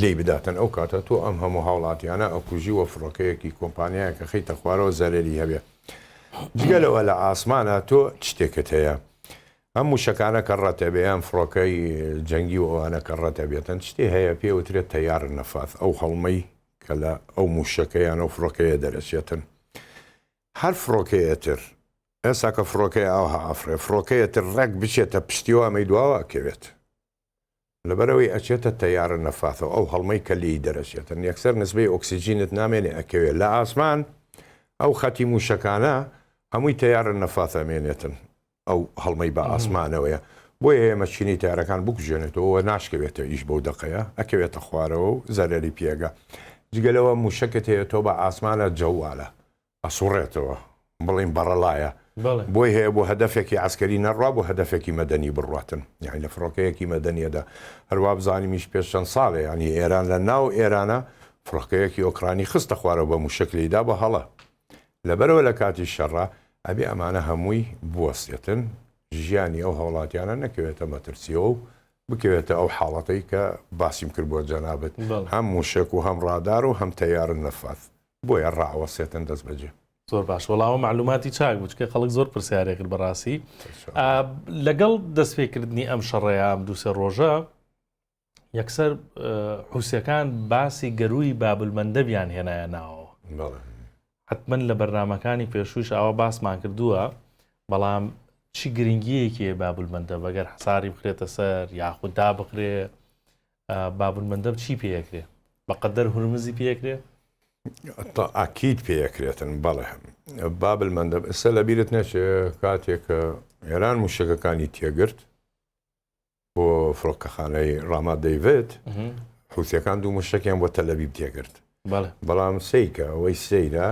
لێی بداتن ئەو کاتە تۆ ئەم هەموو هاوڵاتیانە ئەکوژی وە فڕۆکەیەکی کۆمپانیایەک ئەخەیتە خوارەوە زەرەری هەبێ جگە لەوە لە ئاسمانە تۆ چ شتێکت هەیە ئەم موشەکانە کە ڕەتەبێ ئەم فڕۆکەی جەنگی و ئەوانە کە ڕەتەبێتن شتێ هەیە پێ وترێت تەیار نەفاس ئەو هەڵمەی کە لە ئەو موشەکەیان و فڕۆکەیە دەرەچێتن هەر فڕۆکەیەتر ئێستا کە فڕۆکەی ئاوها ئەفڕێ فڕۆکەیەتر ڕێک بچێتە پشتیوە ئەمەی دواوە ئەکەوێت لەبەرئەوەی ئەچێتە تەیارە نەفاثەوە ئەو هەڵمەی کە لێی دەرەچێتن یەکسەر نسبەی ئۆکسجینت نامێنێ ئەکەوێ لە ئاسمان ئەو خەتی موشەکانە هەمووی تەیارە نەفاث ئەمێنێتن ئەو هەڵمەی بە ئاسمانەوەیە بۆیە ئێمە چینی تارەکان بکوژێنێتەوە ناشکەوێتە ئیش بەو دەقەیە ئەکەوێتە خوارەوە و زەرەری پێگە جگەلەوە موشەکت هەیە تۆ بە ئاسمانە جەوالە ئەسوڕێتەوە بڵێین بەڕەڵایە بەڵێ بۆی هەیە بۆ هەدەفێکی عەسکەری نەڕوا بۆ هەدەفێکی مەدەنی بڕواتن یانی لە فڕۆکەیەکی مەدەنیەدا هەروا بزانیمیش پێش چەند ساڵێ ینی ئێران لە ناو ئێرانە فڕۆکەیەکی ئۆکرانی خستە خوارەوە بە موشک لێیدا بە هەڵە لەبەرەوە لە کاتی شەڕە ئەبێ ئەمانە هەمووی بوەستێتن ژیانی ئەو هەوڵاتیانە نەکەوێتە مەترسیەوە و بکەوێتە ئەو حاڵەتەی کە باسیم کرد بۆ جەنابت بەڵێ هەم موشک و هەم ڕادار و هەم تەیارە نەفاس بۆیە ڕائەوەسێتن دەستبەجێ. زۆر باش وەڵاوە مەعلوماتی چاک بوو چکە خەڵک زۆر پرسیارێ کرد بەڕاستی لەگەڵ دەستپێکردنی ئەم شەڕەیە ئەم دوو سێ ڕۆژە یەکسەر حوسەکان باسی گەروی بابلمەندەبیان هێنایە ناوەوە حتمما لە بەرنمەکانی پێشوش ئەوە باسمان کردووە بەڵام چی گرنگیەکی بابلمەندە بەگەر حساری بخرێتە سەر یاخوددا بخرێ بابل مەندەب چی پێەکرێ بەقەدەر هورمزی پێکرێ ئاکییت پێەکرێتن بەڵێ بابل مەندەب ئستا لە بیرت نەچێ کاتێک ئێران موشەکەکانی تێگرت بۆ فڕۆکەخانەی ڕاما دەیوێت حوسەکان دوو مشتێکیان بۆ تەلەبیب تێگرت بەڵام سیکە ئەوەی سیرە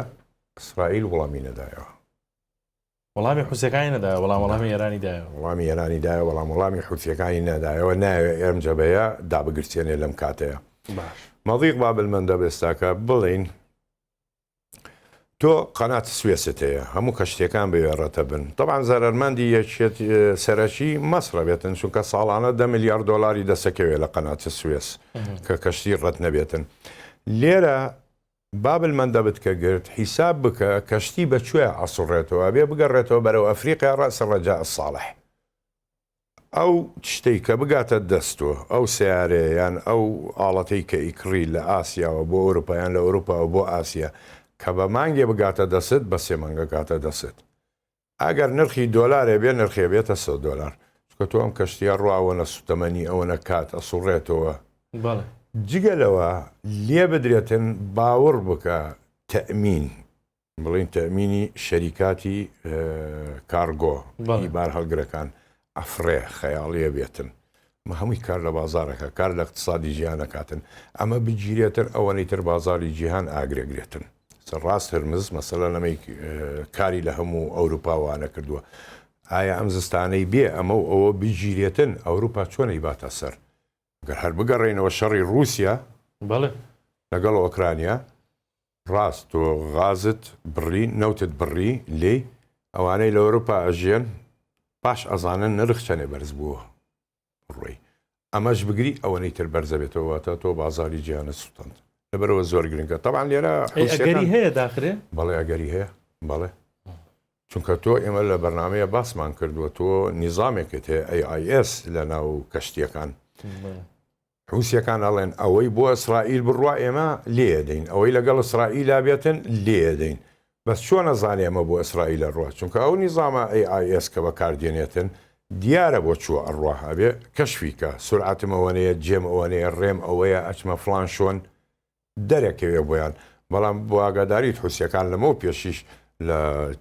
ئیسرائیل وڵامی نەدایەوە وەڵامی حوسیەکانی نەدایەوە بەڵام وەڵامی ئێرانی دایەوە. وەڵامی ئێرانی دایەوە بەڵام وەڵامی حوسیەکانی نەدایەوە نایەوێ ئێم جەبەیە دابگرسێنێ لەم کاتەیە. باش. مەضیق باب المندب ئێستاکە بڵین تۆ قەنات سوێست هەیە هەموو کەشتەکان بەوێ ڕەتە بن طبعا زەرمەندی یەکێت سەرەکی مەسرە بێتن چونکە ساڵانە دە میلیارد دلاری دەسەکەوێت لە قەنات سوێس کە کەشتی ڕەت نەبێتن لێرە بابل مەندەبت کە گرت حیساب بکە کەشتی بە کوێ ئەسوڕێتەوە ئەبێ بگەڕێتەوە بەرەو ئەفریقیا ڕەئس ڕەجاء ساڵح ئەو تشتەی کە بگاتە دەست تۆ ئەو سەیارەیە یان ئەو ئاڵەتەی کە ئیکڕی لە ئاسیاوە بۆ ئەوروپا یان لە ئەوروپاوە بۆ ئاسیا کە بە مانگێ بگاتە دەست بە سێ مانگە گاتە دەست ئەگەر نرخی دۆلارێ بێ نرخێ بێتە سەد دۆلار چونکە تۆ ئەم کەشتیە ڕوا ئەوەنە سوتەمەنی ئەوەنە کات ئەسوڕێتەوە جگە لەوە لێ بدرێتن باوڕ بکە تەمین بڵین تەمینی شەریکاتی کارگۆ بار هەڵگرەکان ئەفڕێ خەیاڵیە بێتن مە هەمووی کار لە بازارەکە کار لە اقتصادی جیهانەکاتن ئەمە بگیرێتن ئەوەنەی تر بازاری جیهان ئاگرێگرێتن سە ڕاست هرمز مەسەلە لەمەی کاری لە هەموو ئەوروپا وانە کردووە ئایا ئەم زستانەی بێ ئەمە و ئەوە بگیرێتن ئەوروپا چۆنەی باتە سەر گەر هەر بگەڕێنەوە شەڕی رووسیا بەڵێ لەگەڵ ئۆکرانیا ڕاست تۆ غازت بڕی نەوتت بڕی لێی ئەوانەی لە ئەوروپا ئەژیەن باش ئەزانن نرخ چەنێ بەرز بووە بڕۆی ئەمەش بگری ئەوەنەی تر بەرز ئەبێتەوە واتە تۆ بازاری جیهانت سوتاند لەبەرەوە زۆر گرنگە تەبان لێرە ئەی ئەگەری هەیە داخرێ بەڵێ ئەگەری هەیە بەڵێ چونکە تۆ ئێمە لە بەرنمەیە باسمان کردووە تۆ نیزامێکت هەیە ئەی ئایس لە ناو کەشتیەکان حوسیەکان ئەڵێن ئەوەی بۆ ئیسرائیل بڕوا ئێمە لێئەدەین ئەوەی لەگەڵ ئیسرائیلا بێتن لێئەدەین بەس چۆن ئەزانێ ئەمە بۆ ئیسرائیل ئەڕوا چونکە ئەو نیزامە AIS کە بەکاردێنێتن دیارە بۆ چووە ئەڕوا ئەبێ کەشفی کا سورعەتم ئەوەنەیە جێم ئەوەنەیە ڕێم ئەوەیە ئەچمە فڵان شۆن دەرەکەوێ بۆیان بەڵام بۆ ئاگاداریت حوسیەکان لەمەو پێشیش لە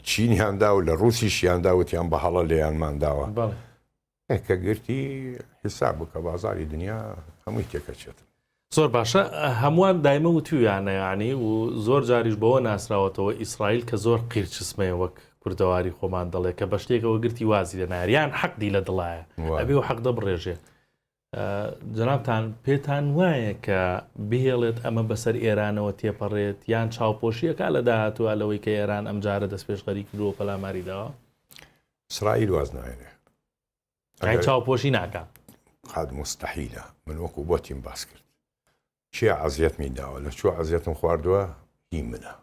چینیاندا و لە ڕوسیشیاندا وتیان بە هەڵە لێیانمانداوە بەڵێ. کە گرتی حیساب بکە بازاری دنیا هەمووی تێکەچێت. زۆر باشە هەمووان دایمە وتویانە یانی و زۆر جاریش بەوە ناسراوەتەوە ئیسرائیل کە زۆر قیرچسمەیە وەک کوردەواری خۆمان دەڵێ کە بە شتێکەوە گرتی وازی لە ناریان حەقدی لە دڵایە ئەبێ و حەق دەبڕێژێ جەنابتان پێتان وایە کە بهێڵێت ئەمە بەسەر ئێرانەوە تێپەڕێت یان چاوپۆشیەکە لە داهاتوە لەوەی کە ئێران ئەم جارە دەست پێشخەری کردووە پەلاماری داوە سرائیل واز ناێنێ چاوپۆشی ناکە قاد مستحیلە من وەکو بۆتیم باس کرد کێ عەزیەتمی داوە لە چوە عەزیەتم خواردووە هی منە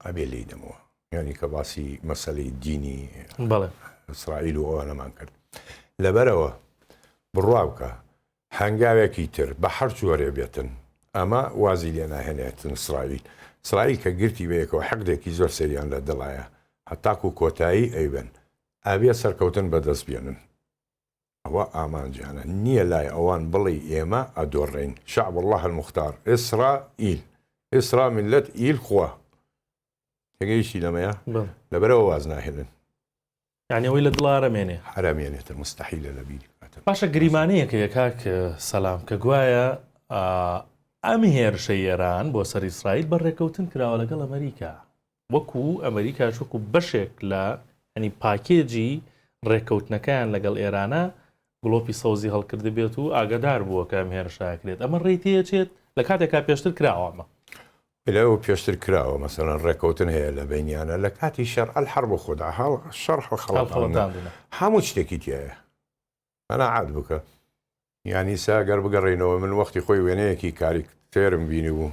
ئەبێ لی دەمەوە یانی کە باسی مەسلەی دینی ئیسرائیل و ئەوە نەمان کرد لەبەرەوە بڕوا بکە هەنگاوێکی تر بە هەر جۆرێ بێتن ئەمە وازی لێ ناهێنێتن سرائیل سرائیل کە گرتی بەیەکەوە حەقدێکی زۆر سەریان لە دڵایە هەتاکو کۆتایی ئەیبن ئابێ سەرکەوتن بەدەست بێنن ئەوە ئامانجیانە نیە لای ئەوان بڵێی ئێمە ئەدۆڕێین شعب اللە المختار اسرا ئیل اسرا ملت ئیل خوا تێگەیشتی لەمەیە لەبەرەوە واز ناهێنن یعنی ئەوەی لە دڵا ئەرەمێنێ ئەرەمێنێتە مستحیلە لە بیری بکاتە باشە گریمانەیەکە یە کاک سەلام کە گوایە ئەم هێرشە ئێران بۆ سەر ئیسرائیل بە ڕێکەوتن کراوە لەگەڵ ئەمەریکا وەکو ئەمەریکاش وەکو بەشێک لە یانی پاکێجی رێککەوتنەکەیان لەگەڵ ئێرانە گڵۆپی سەوزی هەڵکردبێت و ئاگادار بووە کە ئەم هێرشە ئەکرێت ئەمە رێی تێچێت لە کاتێکا پێشتر کراوە ئەمە. بەلێ ئەوە پێشتر کراوە مەسەلەن رێککەوتن هەیە لە بەینیانە لە کاتی شەر الحرب خدا هەڵ شەڕ هەڵخەڵەتاندنە هەموو شتێکی تیایە قەناعەت بکە یانی سا گەر بگەڕێینەوە من وەختی خۆی وێنەیەکی کاریک تێرم بینی بوو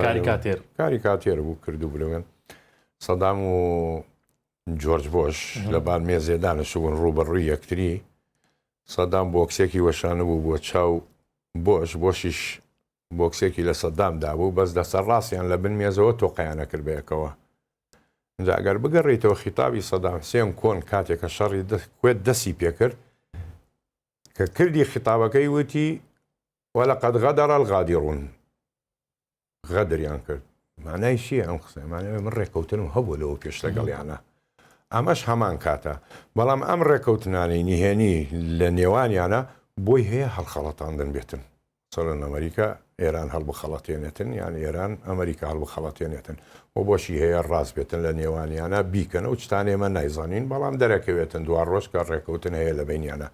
کاریکاتێر کاریکاتێر بوو کردو بلوێن سەدام و جۆرج بۆش لە بار مێزێدانە شوون ڕوبەڕووی یەکتری سەدام بۆکسێکی وەشانە بوو بۆ چاو بۆش بۆشیش بۆکسێکی لە سەدام دابوو بەس دەستە ڕاستیان لە بن مێزەوە تۆقیان ئەکرد بەیەکەوە ئینجا ئەگەر بگەڕێیتەوە خیتابی سەدام حسێن کۆن کاتێک کە شەڕی کوێت دەسی پێکرد کە کردی خیتابەکەی وتی وەلەقەد غەدەڕ الغادرون غەدریان کرد مانای چیە ئەم قسەمانە من ڕێککەوتنم هەبوو لەوە پێش لەگەڵیانە ئەمەش هەمان کاتە بەڵام ئەم ڕێککەوتنانی نهێنی لە نێوانیانە بۆی هەیە هەڵخەڵەتاندن بێتن سەرەن ئەمەریکا ئێران هەڵبخەڵەتێنێتن یان ئێران ئەمەریکا هەڵبخەڵەتێنێتن و بۆچی هەیە ڕاست بێتن لە نێوانیانە بیکەن و چتان ئێمە نایزانین بەڵام دەرەکەوێتن دوا ڕۆژ کە ڕێکەوتن هەیە لە بینیانە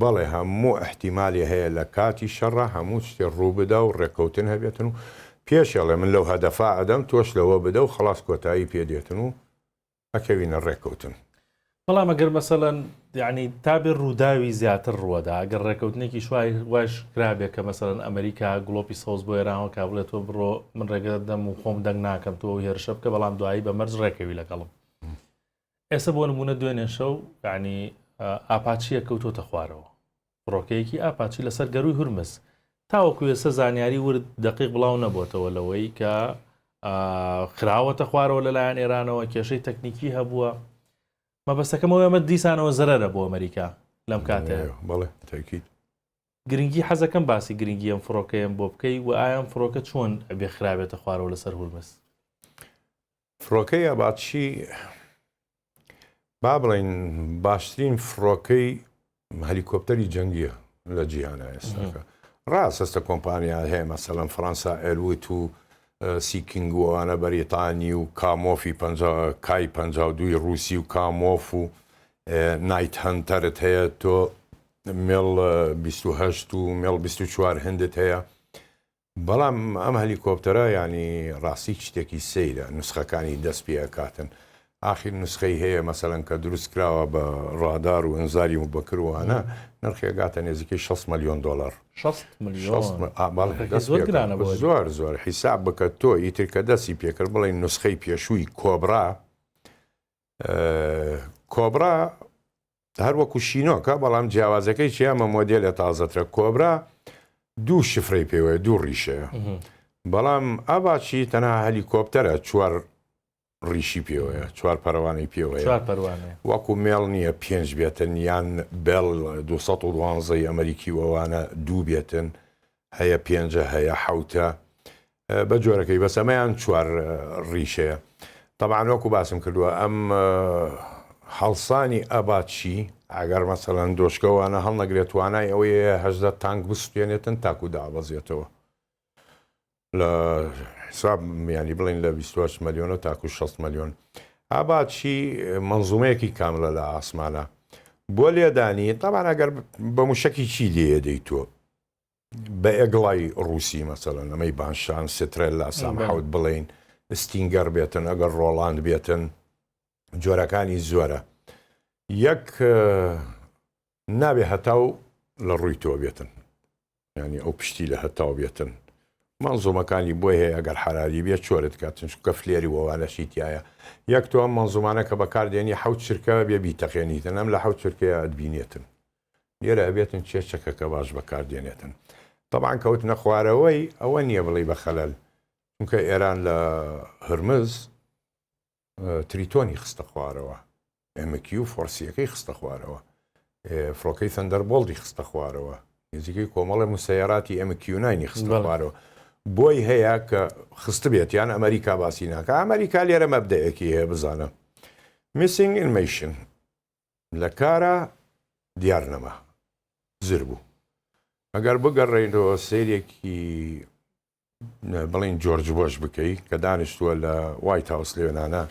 بەڵێ هەموو احتیمالی هەیە لە کاتی شەڕە هەموو شتێ ڕوو بدا و ڕێکەوتن هەبێتن و پێشێڵێ من لەو هەدەفا ئەدەم تۆش لەوە بدە و خەڵاس کۆتایی پێ دێتن و ئەکەوینە ڕێککەوتن. بەڵام ئەگەر مەسەلەن یعنی تابێ ڕووداوی زیاتر ڕووەدا ئەگەر ڕێککەوتنێکی شوای واش کرابێ کە مەسەرەن ئەمریکا گڵۆپی سەوز بۆ ێراوە کا بڵێت تۆ بڕۆ من ڕێگەت دەم و خۆم دەنگ ناکەم تۆ هێرشە بکە بەڵام دوایی بە مەرز ڕێکەوی لەگەڵم ئێستا بۆ نمونە دوێنێ شەو ینی ئاپاچیە کەوتۆتە خوارەوە فڕۆکەیەکی ئاپاچی لەسەر گەرووی هورمز. تاوەکو ئێستا زانیاری ورد دەقیق بڵاو نەبۆتەوە لەوەی کە خراوەتە خوارەوە لەلایەن ئێرانەوە کێشەی تەکنیکی هەبووە مەبەستەکەمەوە ئەمە دیسانەوە زەرەرە بۆ ئەمریکا لەم کاتێ بڵێ تاکیت گرنگی حەزەکەم باسی گرنگی ئەم فڕۆکەیەم بۆ بکەی و ئایان فڕۆکە چۆن ئەبێ خراوێتە خوارەوە لەسەر هورمز فڕۆکەی ئاپاچی با بڵێین باشترین فڕۆکەی هەلیکۆپتەری جەنگیە لە جیهانە ئێستاکە ڕاست هەستە کۆمپانیا هەیە مەسەلەن فەەنسا ئەروت و سیکنگووانە بەریتانی و کامۆفی کای پ دوی رووسی و کامۆف و نایت هەنتەرت هەیە تۆ مێڵ 28 و مێڵ 24 هندت هەیە بەڵام ئەم هەلیکۆپتەرە یانی ڕاستی شتێکی سەیرە نوسخەکانی دەست پێ ئەکاتن ئاخیر نوسخەی هەیە مەسەلەن کە دروست کراوە بە ڕادار و ئەنزاری و بەکروانە نرخێگاتە نێزیکەی 6 ملیۆن دلار زۆر زۆر حیساب بکە تۆ ئیتر کە دەستی پێکرد بڵێ نوسخەی پێشووی کۆبرا کۆبرا هەر وەکو شینۆکە بەڵام جیاوازەکەی چیە ئەمە مۆدێلە تازەترە کۆبرا دوو شفرەی پێوەیە دوو ڕیشەیە بەڵام ئاڤاچی تەنها هەلیکۆپتەرە چوار ڕیشی پێوەیە چوار پەروانەی پێوەیە وەکو مێڵ نییە پێنج بێتن یان بێڵ 212 ئەمریکی وەوانە دوو بێتن هەیە پێنجە هەیە حەوتە بە جۆرەکەی بەس ئەمەیان چوار ڕیشەیە طبعاان وەکو باسم کردووە ئەم هەڵسانی ئەباچی ئەگەر مەسەەن دۆشکەوانە هەڵنەگرێت توانای ئەوەیە هەزدە تانک بسوێنێتن تاکو دابەزێتەوە لە حساب میانی بڵین لە 28 ملیۆنە تاکو 6 ملیۆن ئاباچی منزومەیەکی کاملە لە ئاسمانە بۆ لێدانی تاوان ئەگەر بە موشکی چی لێدەی تۆ بەئەگڵای ڕووسی مەسەلەن ئەمەی بانشان سترێل لا سام حەوت بڵین ستینگەر بێتن ئەگەر ڕۆڵاند بێتن جۆرەکانی زۆرە یەک نابێ هەتاو لە ڕووی تۆ بێتن ینی ئەو پشتی لە هەتاو بێتن مەنزومەکانی بۆی هەیە ئەگەر حرالی بێ چۆرت کاتن چکە فلێری وەوانەشی تایە یەک تۆ ئەم مەنزومانە کە بەکاردێنی حوت چرکە بێ بیتەقێنیتن ئەم لە حوت چرکەیە بینێتن لێرە ئەبێتن چێ چەکەکە باش بەکار دێنێتن تەبان کەوتنە خوارەوەی ئەوە نییە بڵی بە خەلەل چونکە ئێران لە هرمز تریتۆنی خستە خوارەوە ئەمەکی و فۆرسیەکەی خستە خوارەوە فڕۆکەی سندەر بۆڵدی خستە خوارەوە نزیکەی کۆمەڵە موسەیەراتی ئەمەکیوناینی خستە خوارەوە بۆی هەیە کە خست بێت یان ئەمریکا باسی ناکە ئەمریکا لێرە مەبدەیەکی هەیە بزانە میسینگ ئینمیشن لە کارا دیار نەما زر بوو. ئەگەر بگەڕێینەوە سەیرێکی بڵێین جۆرج بۆش بکەی کە دانیشتووە لە وایت هاوس لێنانە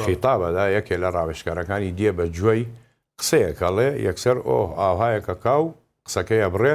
خیتابەدا یەکێ لە ڕاوێشکارەکانی دێ بە جوێی قسەیەکەڵێ یەکسەر ئۆه ئاوهایەکە کاو قسەکەیە بڕێ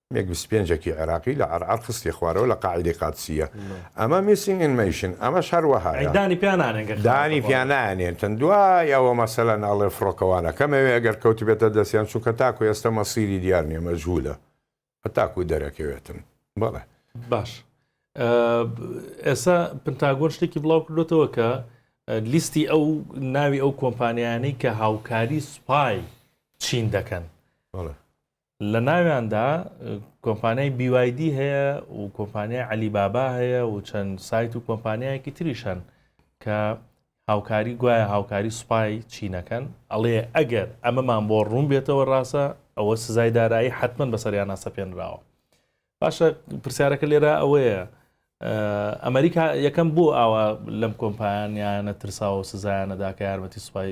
مێگ بیست و پێنج ەکی عێراقی لە عەرعەر خستیە خوارەوە لە قاعیدەی قادسییە ئەمە میسینگ ئین مەیشن ئەمەش هەر وەهایە دانی پیا نانێن گەر خراپە دانی پیا بەڵام. نانێنتن دوای ئەوە مەسەلەن ئەڵێ فڕۆکەوانە کەمەوێ ئەگەر کەوتبێتە دەستیان چونکە تاکو ئێستا مەسیری دیار نیە مەجهولە هەتاکو دەرەکەوێتن بەڵێ باش ئە ئێسا پنتاگۆن شتێکی بڵاو کردۆتەوە کە ئە لیستی ئەو ناوی ئەو کۆمپانیانەی کە هاوکاری سوپای چین دەکەن بەڵێ لە ناویاندا کۆمپانیای BYD هەیە و کۆمپانیای علی بابا هەیە و چەند سایت و کۆمپانیایەکی تریش هەن کە هاوکاری گوایە هاوکاری سوپای چینەکەن ئەڵێ ئەگەر ئەمەمان بۆ ڕوون بێتەوە ڕاستە ئەوە سزای دارایی حتمما بەسەریان ناسەپێنراوە باشە پرسیارەکە لێرە ئەوەیە ئەمریکا یەکەم بۆ ئاوا لەم کۆمپانیانە ترساوە سزایانەدا کە یارمەتی سوپای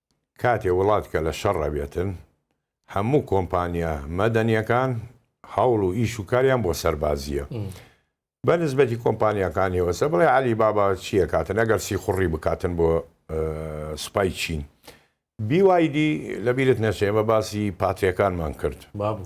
کاتێ وڵاتکە لە شەڕ ئەبێتن هەموو کۆمپانیا مەدەنیەکان هەوڵ و ئیش و کاریان بۆ سەربازیە بە نسبەتی کۆمپانیاکانی وەسە بڵێ علی بابا چیە کاتن ئەگەر سیخوڕی بکاتن بۆ سوپای چین بیوایدی لەبیرت نەچێمە باسی پاتریەکانمان کرد بابوو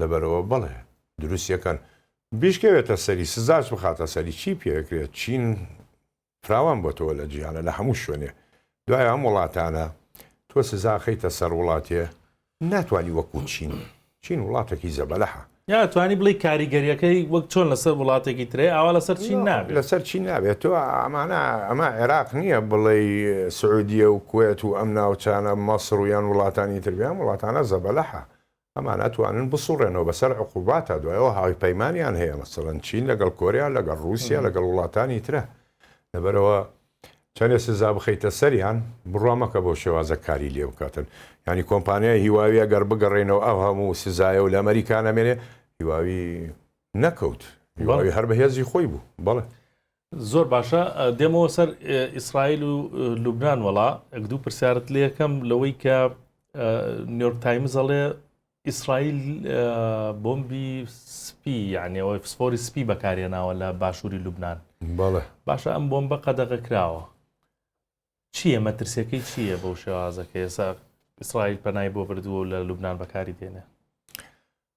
لەبەرئەوە بەڵێ دروستی ئەکەن بیشکێتە سەری سزاش بخاتە سەری چی پێ ئەکرێت چین فراوان بۆتەوە لە جیهانە لە هەموو شوێنێ دوای ئەم وڵاتانە تۆ سزا خەیتە سەر وڵاتێ ناتوانی وەکو چین چین وڵاتێکی زەبەلەحە یا توانی بڵی کاریگەریەکەی وەک چۆن لەسەر وڵاتێکی ترێ ئاوا لەسەر چین نابێت لەسەر چی نابێت تۆ ئەمانە ئەمە عێراق نییە بڵێ سعودیە و کوێت و ئەم ناوچانە مەسر و یان وڵاتانی تربیان وڵاتانە زەبەلەحە ئەمان ئەتوانن بسوڕێنەوە بەسەر عقوباتا دوای ئەوە هاوپەیمانیان هەیە مەسەڵەن چین لەگەڵ کۆریا لەگەڵ ڕووسیا لەگەڵ وڵاتانی ترە لەبەرەوە چەندێ سزا بخەیتە سەریان بڕوا مەکە بۆ شێوازە کاری لێ بکاتن ینی کۆمپانیای هیواویە گەر بگەڕێنەوە ئەو هەموو سزایە و لە ئەمریکا نەمێنێ هیواوی نەکەوت هیواوی هەر بەهێزی خۆی بوو بەڵێ زۆر باشە دێمەوە سەر ئیسرائیل و لوبناان وەڵا ئەک دوو پرسیارت لەکەم لەوەی کە نیۆرک تایمز ئەڵێ ئیسرائیل بۆمبی سپی یانەوەی فسفۆری سپی بەکارێناوە لە باشووری لوبناان بەڵێ باشە ئەم بۆمبە قەدەغە کراوە چییە مەترسیەکەی چییە بەو شێوازەکە ئێسا ئیسرائیل پەنای بۆ بردووە لە لوبناان بەکاری دێنێ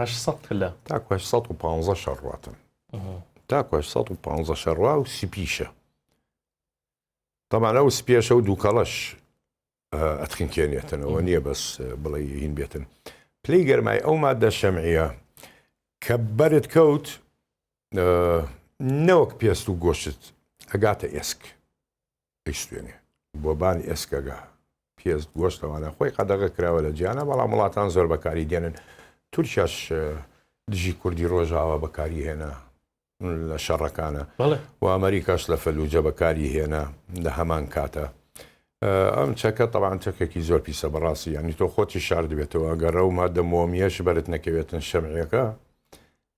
هەشت سەد پلە. تاکو هەشت سەد و پانزە شەڕواتن. تاکو هەشت سەد و پانزە شەڕوا و سپیشە. تەمان ئەو سپیشە و دووکەڵەش ئەتخنکێنێتنەوە نییە بەس بڵێ هین بێتن. پلەی گەرمای ئەو مادە شەمعە کە بەرت کەوت نەوەک پێست و گۆشت ئەگاتە ئێسک. ئەیسوتێنێ بۆ بان ئێسکەگە پێست گۆشتەوانە خۆی قەدەغە کراوە لە جیانە بەڵام وڵاتان زۆر بەکاری دێنن تورکیاش دژی کوردی ڕۆژاوا بەکاری هێنا لە شەڕەکانە و ئەمریکاش لە فەلوجە بەکاری هێنا لە هەمان کاتە ئەم چەکە تەوان چەکێکی زۆر پیسە بەڕاستی ینی تۆ خۆتی شار دەبێتەوە گەڕە و مادە مۆمیەش بەرت نەکەوێتن شەمعەکە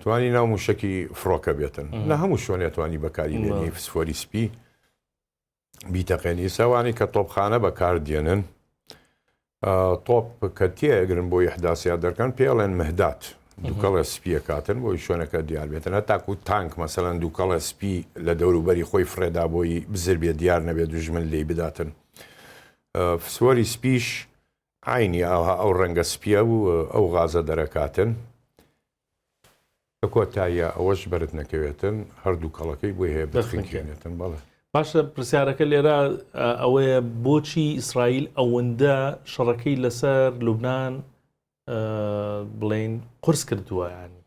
توانی ناو موشەکی فڕۆکە بێتن لە هەموو شوێنێ توانی بەکاری بێنی فسفۆری سپی بیتەقێن ئیساوانی کە تۆپخانە بەکار دێنن تۆپ کە تێگرن بۆ یحداسیا دەرکەن پێڵێن مهدات دووکەڵە سپیە کاتن بۆی شوێنەکە دیار بێتن هەتاکو تانک مەسەەن دووکەڵە سپی لە دەوروبەری خۆی فرێدا بۆی بزر بێ دیار نەبێت دوژمن لی بداتن فسوەری سپیش عەینی ئاوها ئەو ڕەنگە سپیە و ئەو غازە دەرەکاتن. لە کۆتاییا ئەوەش بەرت نەکەوێتن هەردوو کەڵەکەی بۆی هەیە بخنکێنێتن بەڵێ. باشە پرسیارەکە لێرە ئەوەیە بۆچی ئیسرائیل ئەوەندە شەڕەکەی لەسەر لوبنان بڵێین قورس کردووە یانی؟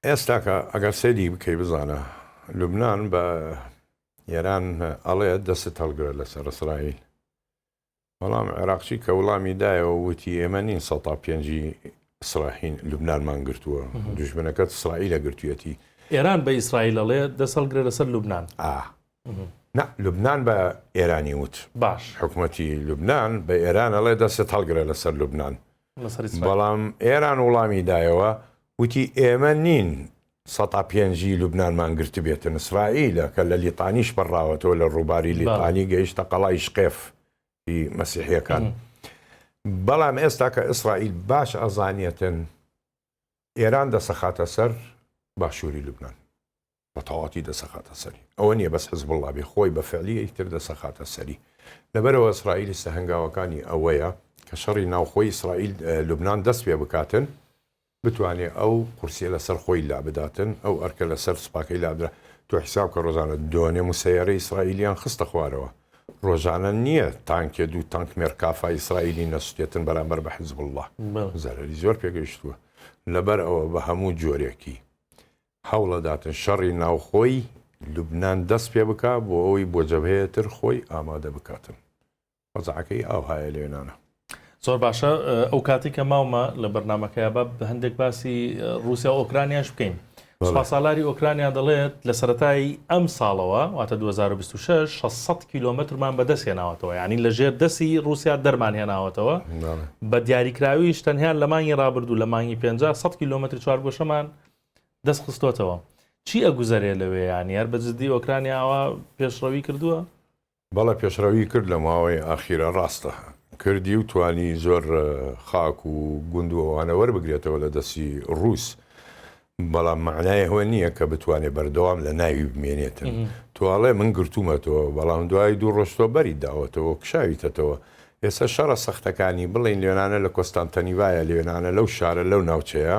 ئێستاکە ئەگەر سەیری بکەی بزانە لوبنان بە ئێران ئەڵێ دەستت هەڵگرە لەسەر ئیسرائیل بەڵام عێراقچی کە وڵامی دایەوە وتی ئێمە نین سە پێنجی ئیسراحین لوبنانمان گرتووە دژمنەکەت ئیسرائیلە گرتوەتی ئێران بە ئیسرائیلەڵێ دەسەڵگرە لەسەر لوبناان نا لوبنان بە ئێرانی وت باش حکومەتی لوبنان بە ئێران ئەڵێ دەستت هەڵگرە لەسەر لوبنان بەڵام ئێران وڵامی دایەوە وتی ئێمە نین سەتا پێنجی لوبنانمان گرت بێتە نسرائیلە کە لە لیتانیش پەڕاوەتەوە لە ڕووباری لیتانی گەیشتە قەڵای شقێف مەسیحیەکان بەڵام ئێستا کە ئیسرائیل باش ئەزانیەتن ئێران دەسەخاتە سەر باشووری لوبنان بەتەواتی دەسەخاتە سەری ئەوە نیە بەس حزبوڵا بێ خۆی بە فعلی ئەی تر دەسەخاتە سەری لەبەرەوە ئیسرائیل ئیستە هەنگاوەکانی ئەوەیە کە شەڕی ناوخۆی ئیسرائیل لوبنان دەست پێ بکاتن بتوانێ ئەو قورسیە لەسەر خۆی لابداتن ئەو ئەرکە لەسەر سوپاکەی لابدرا تۆ حیساب کە ڕۆژانە دۆنێ موسەیارە ئیسرائیلیان خستە خوارەوە ڕۆژانە نییە تانکێ دوو تانک مێرکافا ئیسرائیلی نەسوتێتن بەرامبەر بە حزب الله زەرری زۆر پێگەیشتووە لەبەر ئەوە بە هەموو جۆرێکی هەوڵەداتن شەڕی ناوخۆی لوبنان دەست پێ بکا بۆ ئەوەی بۆ جەبهەیە تر خۆی ئامادە بکاتن وەزعەکەی ئاوهایە لێنانە. زۆر باشە ئەو کاتی کە ماومە لە بەرنمەکەی با بە هەندێک باسی رووسیا و ئۆکرانیاش بکەین سوپاسالاری ئۆکرانیا دەڵێت لە سەتایی ئەم ساڵەوە واتە 2026 600 کیلومترمان بەدەست هێناوەتەوە یعنی لە ژێر دەسی رووسیا دەرمان هێناوەتەوە بە دیاریکراویش تەنها لە مانگی رابردوو لە مانگی 500 کیلومتر چوارگۆشەمان دەست خستۆتەوە چی ئەگوزەرێ لەوێ یانی هەر بە جددی ئۆکرانیا ئەوە پێشڕەوی کردووە؟ بەڵێ پێشڕەوی کرد لە ماوەی ئاخیرە ڕاستە کردی و توانی زۆر خاک و گوند و ئەوانە وەربگرێتەوە لە دەستی ڕووس بەڵام معنای هەوە نییە کە بتوانێت بەردەوام لە ناوی بمێنێتن تواڵێ من گرتوومەتەوە بەڵام دوای دوو ڕۆشتۆ بەری داوەتەوە کشاویتەتەوە ئێستا شەڕە سەختەکانی بڵین لێنانە لە کۆستانتەنیڤایە لێنانە لەو شارە لەو ناوچەیە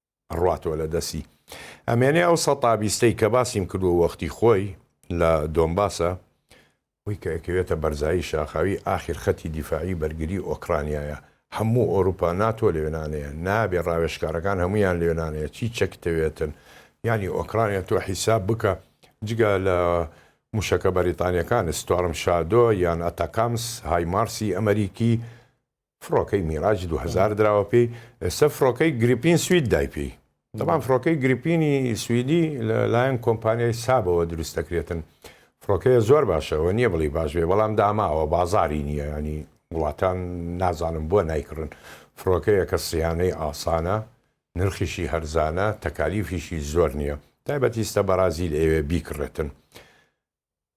ڕواتەوە لە دەستی ئەمێنێ ئەو سە تابیستەی کە باسیم کردو وەختی خۆی لە دۆمباسە وی کە ئەکەوێتە بەرزایی شاخاوی ئاخیر خەتی دیفاعی بەرگری ئۆکڕانیایە هەموو ئۆروپا ناتۆ لەوێنانەیە نابێ ڕاوێژکارەکان هەموویان لەوێنانەیە چی چەکتەوێتن یانی ئۆکڕانیا تۆ حیساب بکە جگە لە موشەکە بەریتانیەکان ستۆرم شادۆ یان ئەتاکامس هایمارسی ئەمەریکی فڕۆکەی میراج دوو هەزار دراوە پێی ئێستا فڕۆکەی گریپین سوید دای پێی دەبان فڕۆکەی گریپینی سویدی لە لایەن کۆمپانیای سابەوە دروست دەکرێتن فڕۆکەیە زۆر باشەوە نییە بڵی باش بێ بەڵام داماوە بازاری نییە ینی وڵاتان نازانم بۆ نایکڕن فڕۆکەیە کە سیانەی ئاسانە نرخیشی هەرزانە تەکالیفیشی زۆر نییە تایبەتیستە بەرازیل ئەوێ بیکڕێتن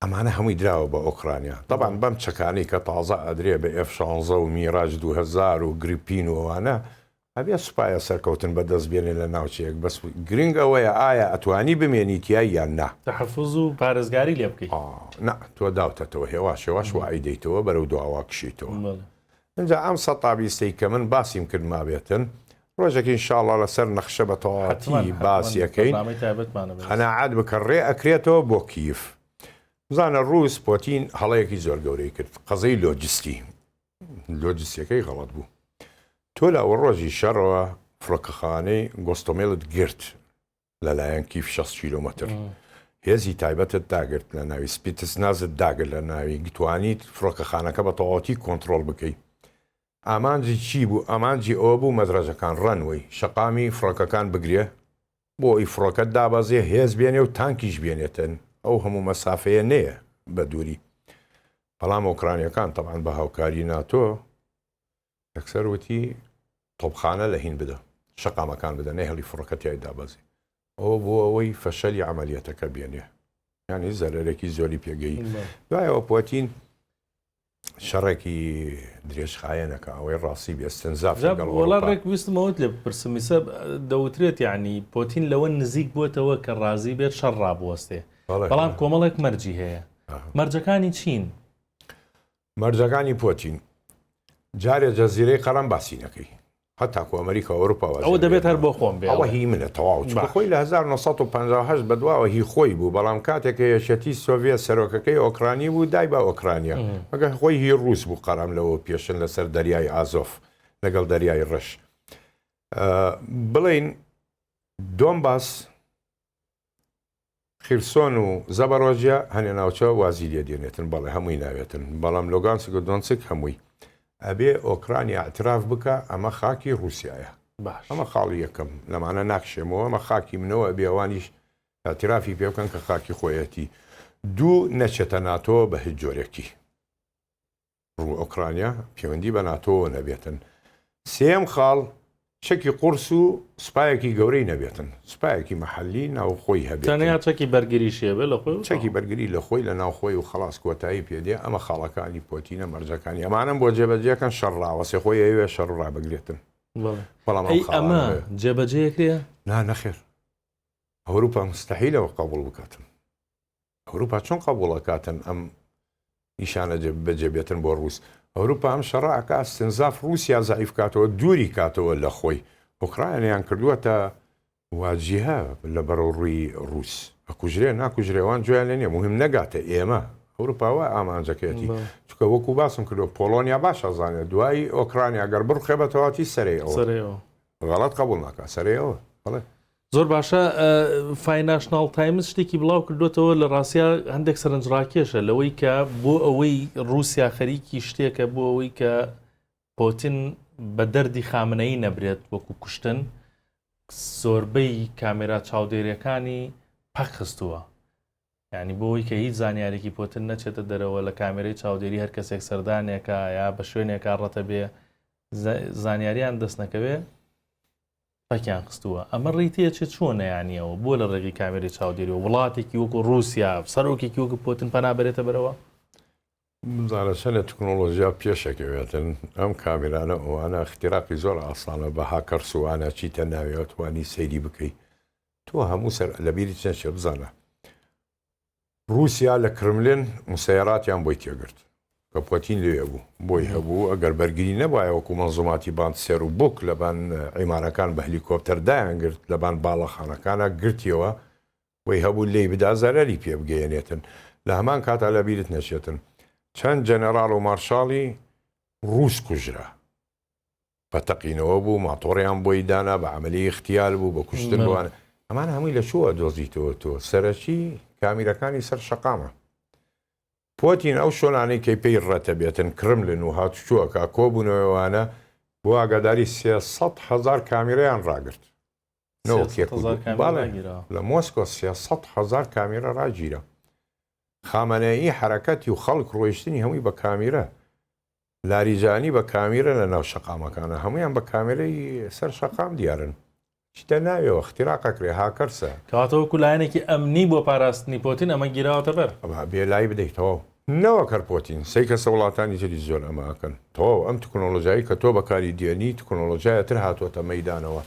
ئەمانە هەمووی دراوە بە ئۆکڕانیا تەبعەن بەم چەکانەی کە تازە ئەدرێ بە ئێف شانزە و میراج دوو هەزار و گریپین و ئەوانە ئەبێ سوپایە سەرکەوتن بە دەست بێنێ لە ناوچەیەک بەس گرینگ ئەوەیە ئایا ئەتوانی بمێنی تیای یان نا. تەحەفوز و پارێزگاری لێ بکەی. ئا نا تۆ داوتەتەوە هێواش هێواش وائەیدەیتەوە بەرەو دواوە کشێیتەوە. بەڵێ. ئینجا ئەم سەد تابیستەی کە من باسیم کرد مابێتن، ڕۆژێک ان شاء اللە لەسەر نەخشە بە تەواوەتی باسی ئەکەین، قەناعەت بکە ڕێ ئەکرێتەوە بۆ کییف. بزانە ڕووس پۆتین هەڵەیەکی زۆر گەورەی کرد، قەزیەی لۆجستی لۆجستیەکەی غەڵەت بوو. تۆ لە ئەوەڕۆژی شەڕەوە فڕۆکەخانەی گۆستۆمێلت گرت، لەلایەن کیف شەست کیلۆمەتر هێزی تایبەتت داگرت لە ناوی سپیتس نازت داگر لە ناوی گتوانیت فڕۆکەخانەکە بە تەواوەتی کۆنتترۆل بکەیت ئامانجی چی بوو ئامانجی ئەوە بوو مەدرەزەکان ڕەنوەی شەقامی فڕۆکەکان بگرێ بۆ ئەوی فڕۆکەت دابەزێ هێز بێنێ و تانکیش بێنێتن ئەو هەموو مەسافەیە نەیە بە دووری بەڵام ئۆکرانیەکان تەبان بە هاوکاری ناتۆ یەکسەر وتی، تۆپخانە لە هین بدە، شەقامەکان بدە، نەیهڵی فڕۆکە تیای دابەزی. ئەوە بۆ ئەوەی فەشەلی عەمەلیەتەکە بێنێ، یانی زەرەرێکی زۆری پێگەی. دوایەوە پۆتین شەڕێکی درێژخایەنەکە ئەوەی ڕاستی بێ استنزاف لەگەڵ ئەوروپا. ڕێک ویستم ئەوەت لێ بپرسم، ئیستا دەوترێت یانی پۆتین لەوە نزیک بۆتەوە کە ڕازی بێت شەڕ ڕابوەستێ، بەڵام کۆمەڵێک مەرجی هەیە، مەرجەکانی چین؟ مەرجەکانی پۆتین جارێ جەزیرەی قەرەم باسی نەکەی هەتاکو ئەمریکا ئەوروپا واز ئەوە دەبێت هەر بۆ خۆم بێ ئەوە هی منە تەواو چکە خۆی لە 1950 بەدواوە هی خۆی بوو بەڵام کاتێک یەکێتی سۆڤێت سەرۆکەکەی ئۆکرانی بوو دای بە ئۆکرانیا مەگەر خۆی هی ڕووس بوو قەرەم لەوە پێشن لەسەر دەریای ئازۆف لەگەڵ دەریای ڕەش بڵین دۆم باس خیرسۆن و زەبەڕۆجیا هەنێ ناوچە وازی لێ دێنێتن بەڵێ هەمووی ناوێتن بەڵام لۆگانسک و دۆنسک هەمووی ئەبێ ئۆکرانیا ئەتراف بکە ئەمە خاکی ڕوسایە باش ئەمە خاڵی یەکەم لەمانە ناکشێمەوە ئەمە خاکی منەوە بێوانیش ئەترافی پێ بکەن کە خاکی خۆیەتی دوو نەچێتە ناتۆ بە هیچ جۆرێکی و ئۆکرانیا پێوەندی بە ناتۆوە نەبێتن. سێیەم خاڵ، چەکی قوڕس و سوپایەکی گەورەی نەبێتن. سوپایەکی مەحەلی ناوخۆی هەبێتن. تەنیا چەکی بەرگریشی هەبێت لە خۆی و. چەکی بەرگری لە خۆی لە ناو خۆی و خەڵاس کۆتایی پێ دێ. ئەمە خاڵەکانی پۆتینە مەرجەکانی ئەمانەن بۆ جێبەجێکەن شەڕ ڕاوەستێ. خۆی ئەیەوێ شەڕ ڕابگرێتن. بەڵام ئەو خاڵانە. ئەی ئەمە جێبەجێ ئەکرێ؟ نا نەخێر. ئەوروپا مستەحیلە ئەوە قەبوڵ بکاتن. ئەوروپا چۆن قەبوڵ ئەکاتن ئەم نیشانە بەجێ بێتن بۆ ڕووس ئەوروپا ئەم شەڕە ئەکا استنزاف ڕووسیا زعیف کاتەوە دووری کاتەوە لە خۆی ئۆکرایانیان کردووەتە واجیهە لە بەرەو ڕووی ڕووس ئەکوژرێ ناکوژرێوان جویان لە نیە مهم نەگاتە ئێمە ئەوروپاوە ئامانجەکەیەتی چکە وەکو باسم کردو پۆلۆنیا باش ئەزانێت دوایی ئۆکرانیا گەر بڕخێ بەتەواتی سەرەوە غەڵەت قبول ناکە سەرەوە بڵێ زۆر باشە فایناشناڵ تایمز شتێکی بڵاو کردوێتەوە لە ڕاستیا هەندێک سەرنجڕاکێشە لەوەی کە بۆ ئەوەی ڕوسیا خەریکی شتێکە بۆ ئەوەی کە پۆتین بە دەردی خامنەی نەبرێت وەکو کوشتن زۆربەی کامێرا چاودێرەکانی پەکخستووە ینی بۆی کە هیچ زانیارێکی پۆتن نەچێتە دەرەوە لە کامێرەی چاودێری هەر کەسێک سەردانێکە یا بە شوێنێکا ڕەتە بێ زانیاریان دەستنەکەوێ پەکیان خستووە ئەمە ڕیتیە چ چۆنە یانی ئەوە بۆ لە ڕێگەی کامێرەی چاودێریەوە وڵاتێکی وەکو ڕوسیا سەرۆکێکی وەکو پۆتن پەنا بەرێتە بەرەوە؟ بزانە چەند لە تکنۆلۆژیا پێشەکەوێتن ئەم کامێرانە ئەوانە اختیراقی زۆر ئاسانە بە هاکەرس و وانە چیتە ناوێ توانی سەیری بکەی تۆ هەموو سەر لەبیری چەند شێ بزانە ڕووسیا لە کرملن موسەیەراتیان بۆی تێگرت کە پۆتین لەوێ بوو، بۆی هەبوو ئەگەر بەرگری نەبوایە وەکو مەنزوماتی باند سێر و بووک لەبان عیمارەکان بە هەلیکۆپتەر دایانگرت لەبان باڵەخانەکانا گرتیەوە بۆی هەبوو لێی بدا زەرەری پێ بگەیەنێتن لە هەمان کاتا لەبیرت نەچێتن چەند جەنەراڵ و مارشاڵی ڕووس کوژرا. بە تەقینەوە بوو ماتۆڕیان بۆی دانا بە عملی اختیال بوو بە کوشتن بووان ئەمان هەمووی لە چووە دۆزیتەوە تۆ سەرەکی کامیرەکانی سەر شقامە پۆتین ئەو شۆنانی کەی پێی ڕەتە بێتن کرملن و هاتوچووەکە کۆبوونەوەوانە بۆ ئاگاداری سێسەد هزار کامیرەیان ڕاگرت لە مۆسکۆ سێسەد هزار کامیرە ڕاگیرە خامەنەیی حرەکەتی و خەڵک ڕۆیشتنی هەمووی بە کامیرە لاریجانی بە کامیرە لە ناو شەقامەکانە هەموویان بە کامێرەی سەر شەقام دیارن چیتە ناویەوە اختراق اکرێ هاکەرسە. کەواتە وەکو لایەنێکی ئەمنی بۆ پاراستنی پۆتین ئەمە گیراوەتە بەر. ئەمە بێ لای بدەی تەواو. نەوەک هەر پۆتین سەی کەسە وڵاتانی تریش زۆر ئەمە ئەکەن تەواو ئەم تکنۆلۆژایی کە تۆ بەکاری دێنی تکنۆلۆژایە تر هاتوەتە مەیدانەوە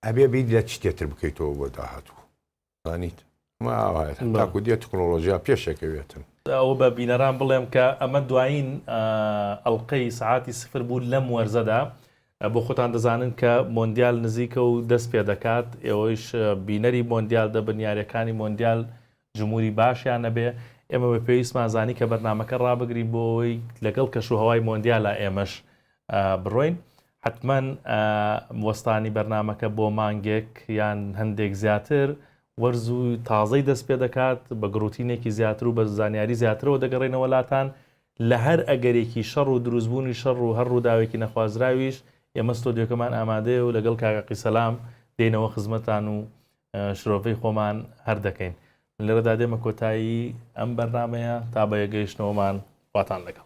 ئەبێ بیت لە چ تێتر بکەیتەوە بۆ داهاتوو. زانیت ئەمە ئاوایە تاکو دێت تکنۆلۆژیا پێشەکەوێتن ئەوە بە بینەران بڵێم کە ئەمە دوایین ئەڵلقەی سعاتی سفر بوو لەم وەرزەدا بۆ خۆتان دەزانن کە مۆندیال نزیکە و دەست پێ دەکات ئێوەش بینەری مۆندیال دەبن یاریەکانی مۆندیال جمهوری باشیان نەبێ ئێمە بە پێویستمان زانی کە بەرنمەکە ڕابگرین بۆ ئەوەی لەگەڵ کەش و هەوای مۆندیالا ئێمەش بڕۆین حەتمەن وەستانی بەرنامەکە بۆ مانگێک یان هەندێک زیاتر وەرز و تازەی دەست پێ دەکات بە گڕوتینێکی زیاتر و بە زانیاری زیاترەوە دەگەڕێنەوە لاتان لە هەر ئەگەرێکی شەڕ و دروستبوونی شەڕ و هەر ڕووداوێکی نەخوازراویش ئێمە ستۆدیۆکەمان ئامادەیە و لەگەڵ کاکە قیسەلام دێنەوە خزمەتان و شرۆڤەی خۆمان هەر دەکەین لێرەدا دێمە کۆتایی ئەم بەرنمەیە تا بەیەگەیشتنەوەمان واتان لەگەڵ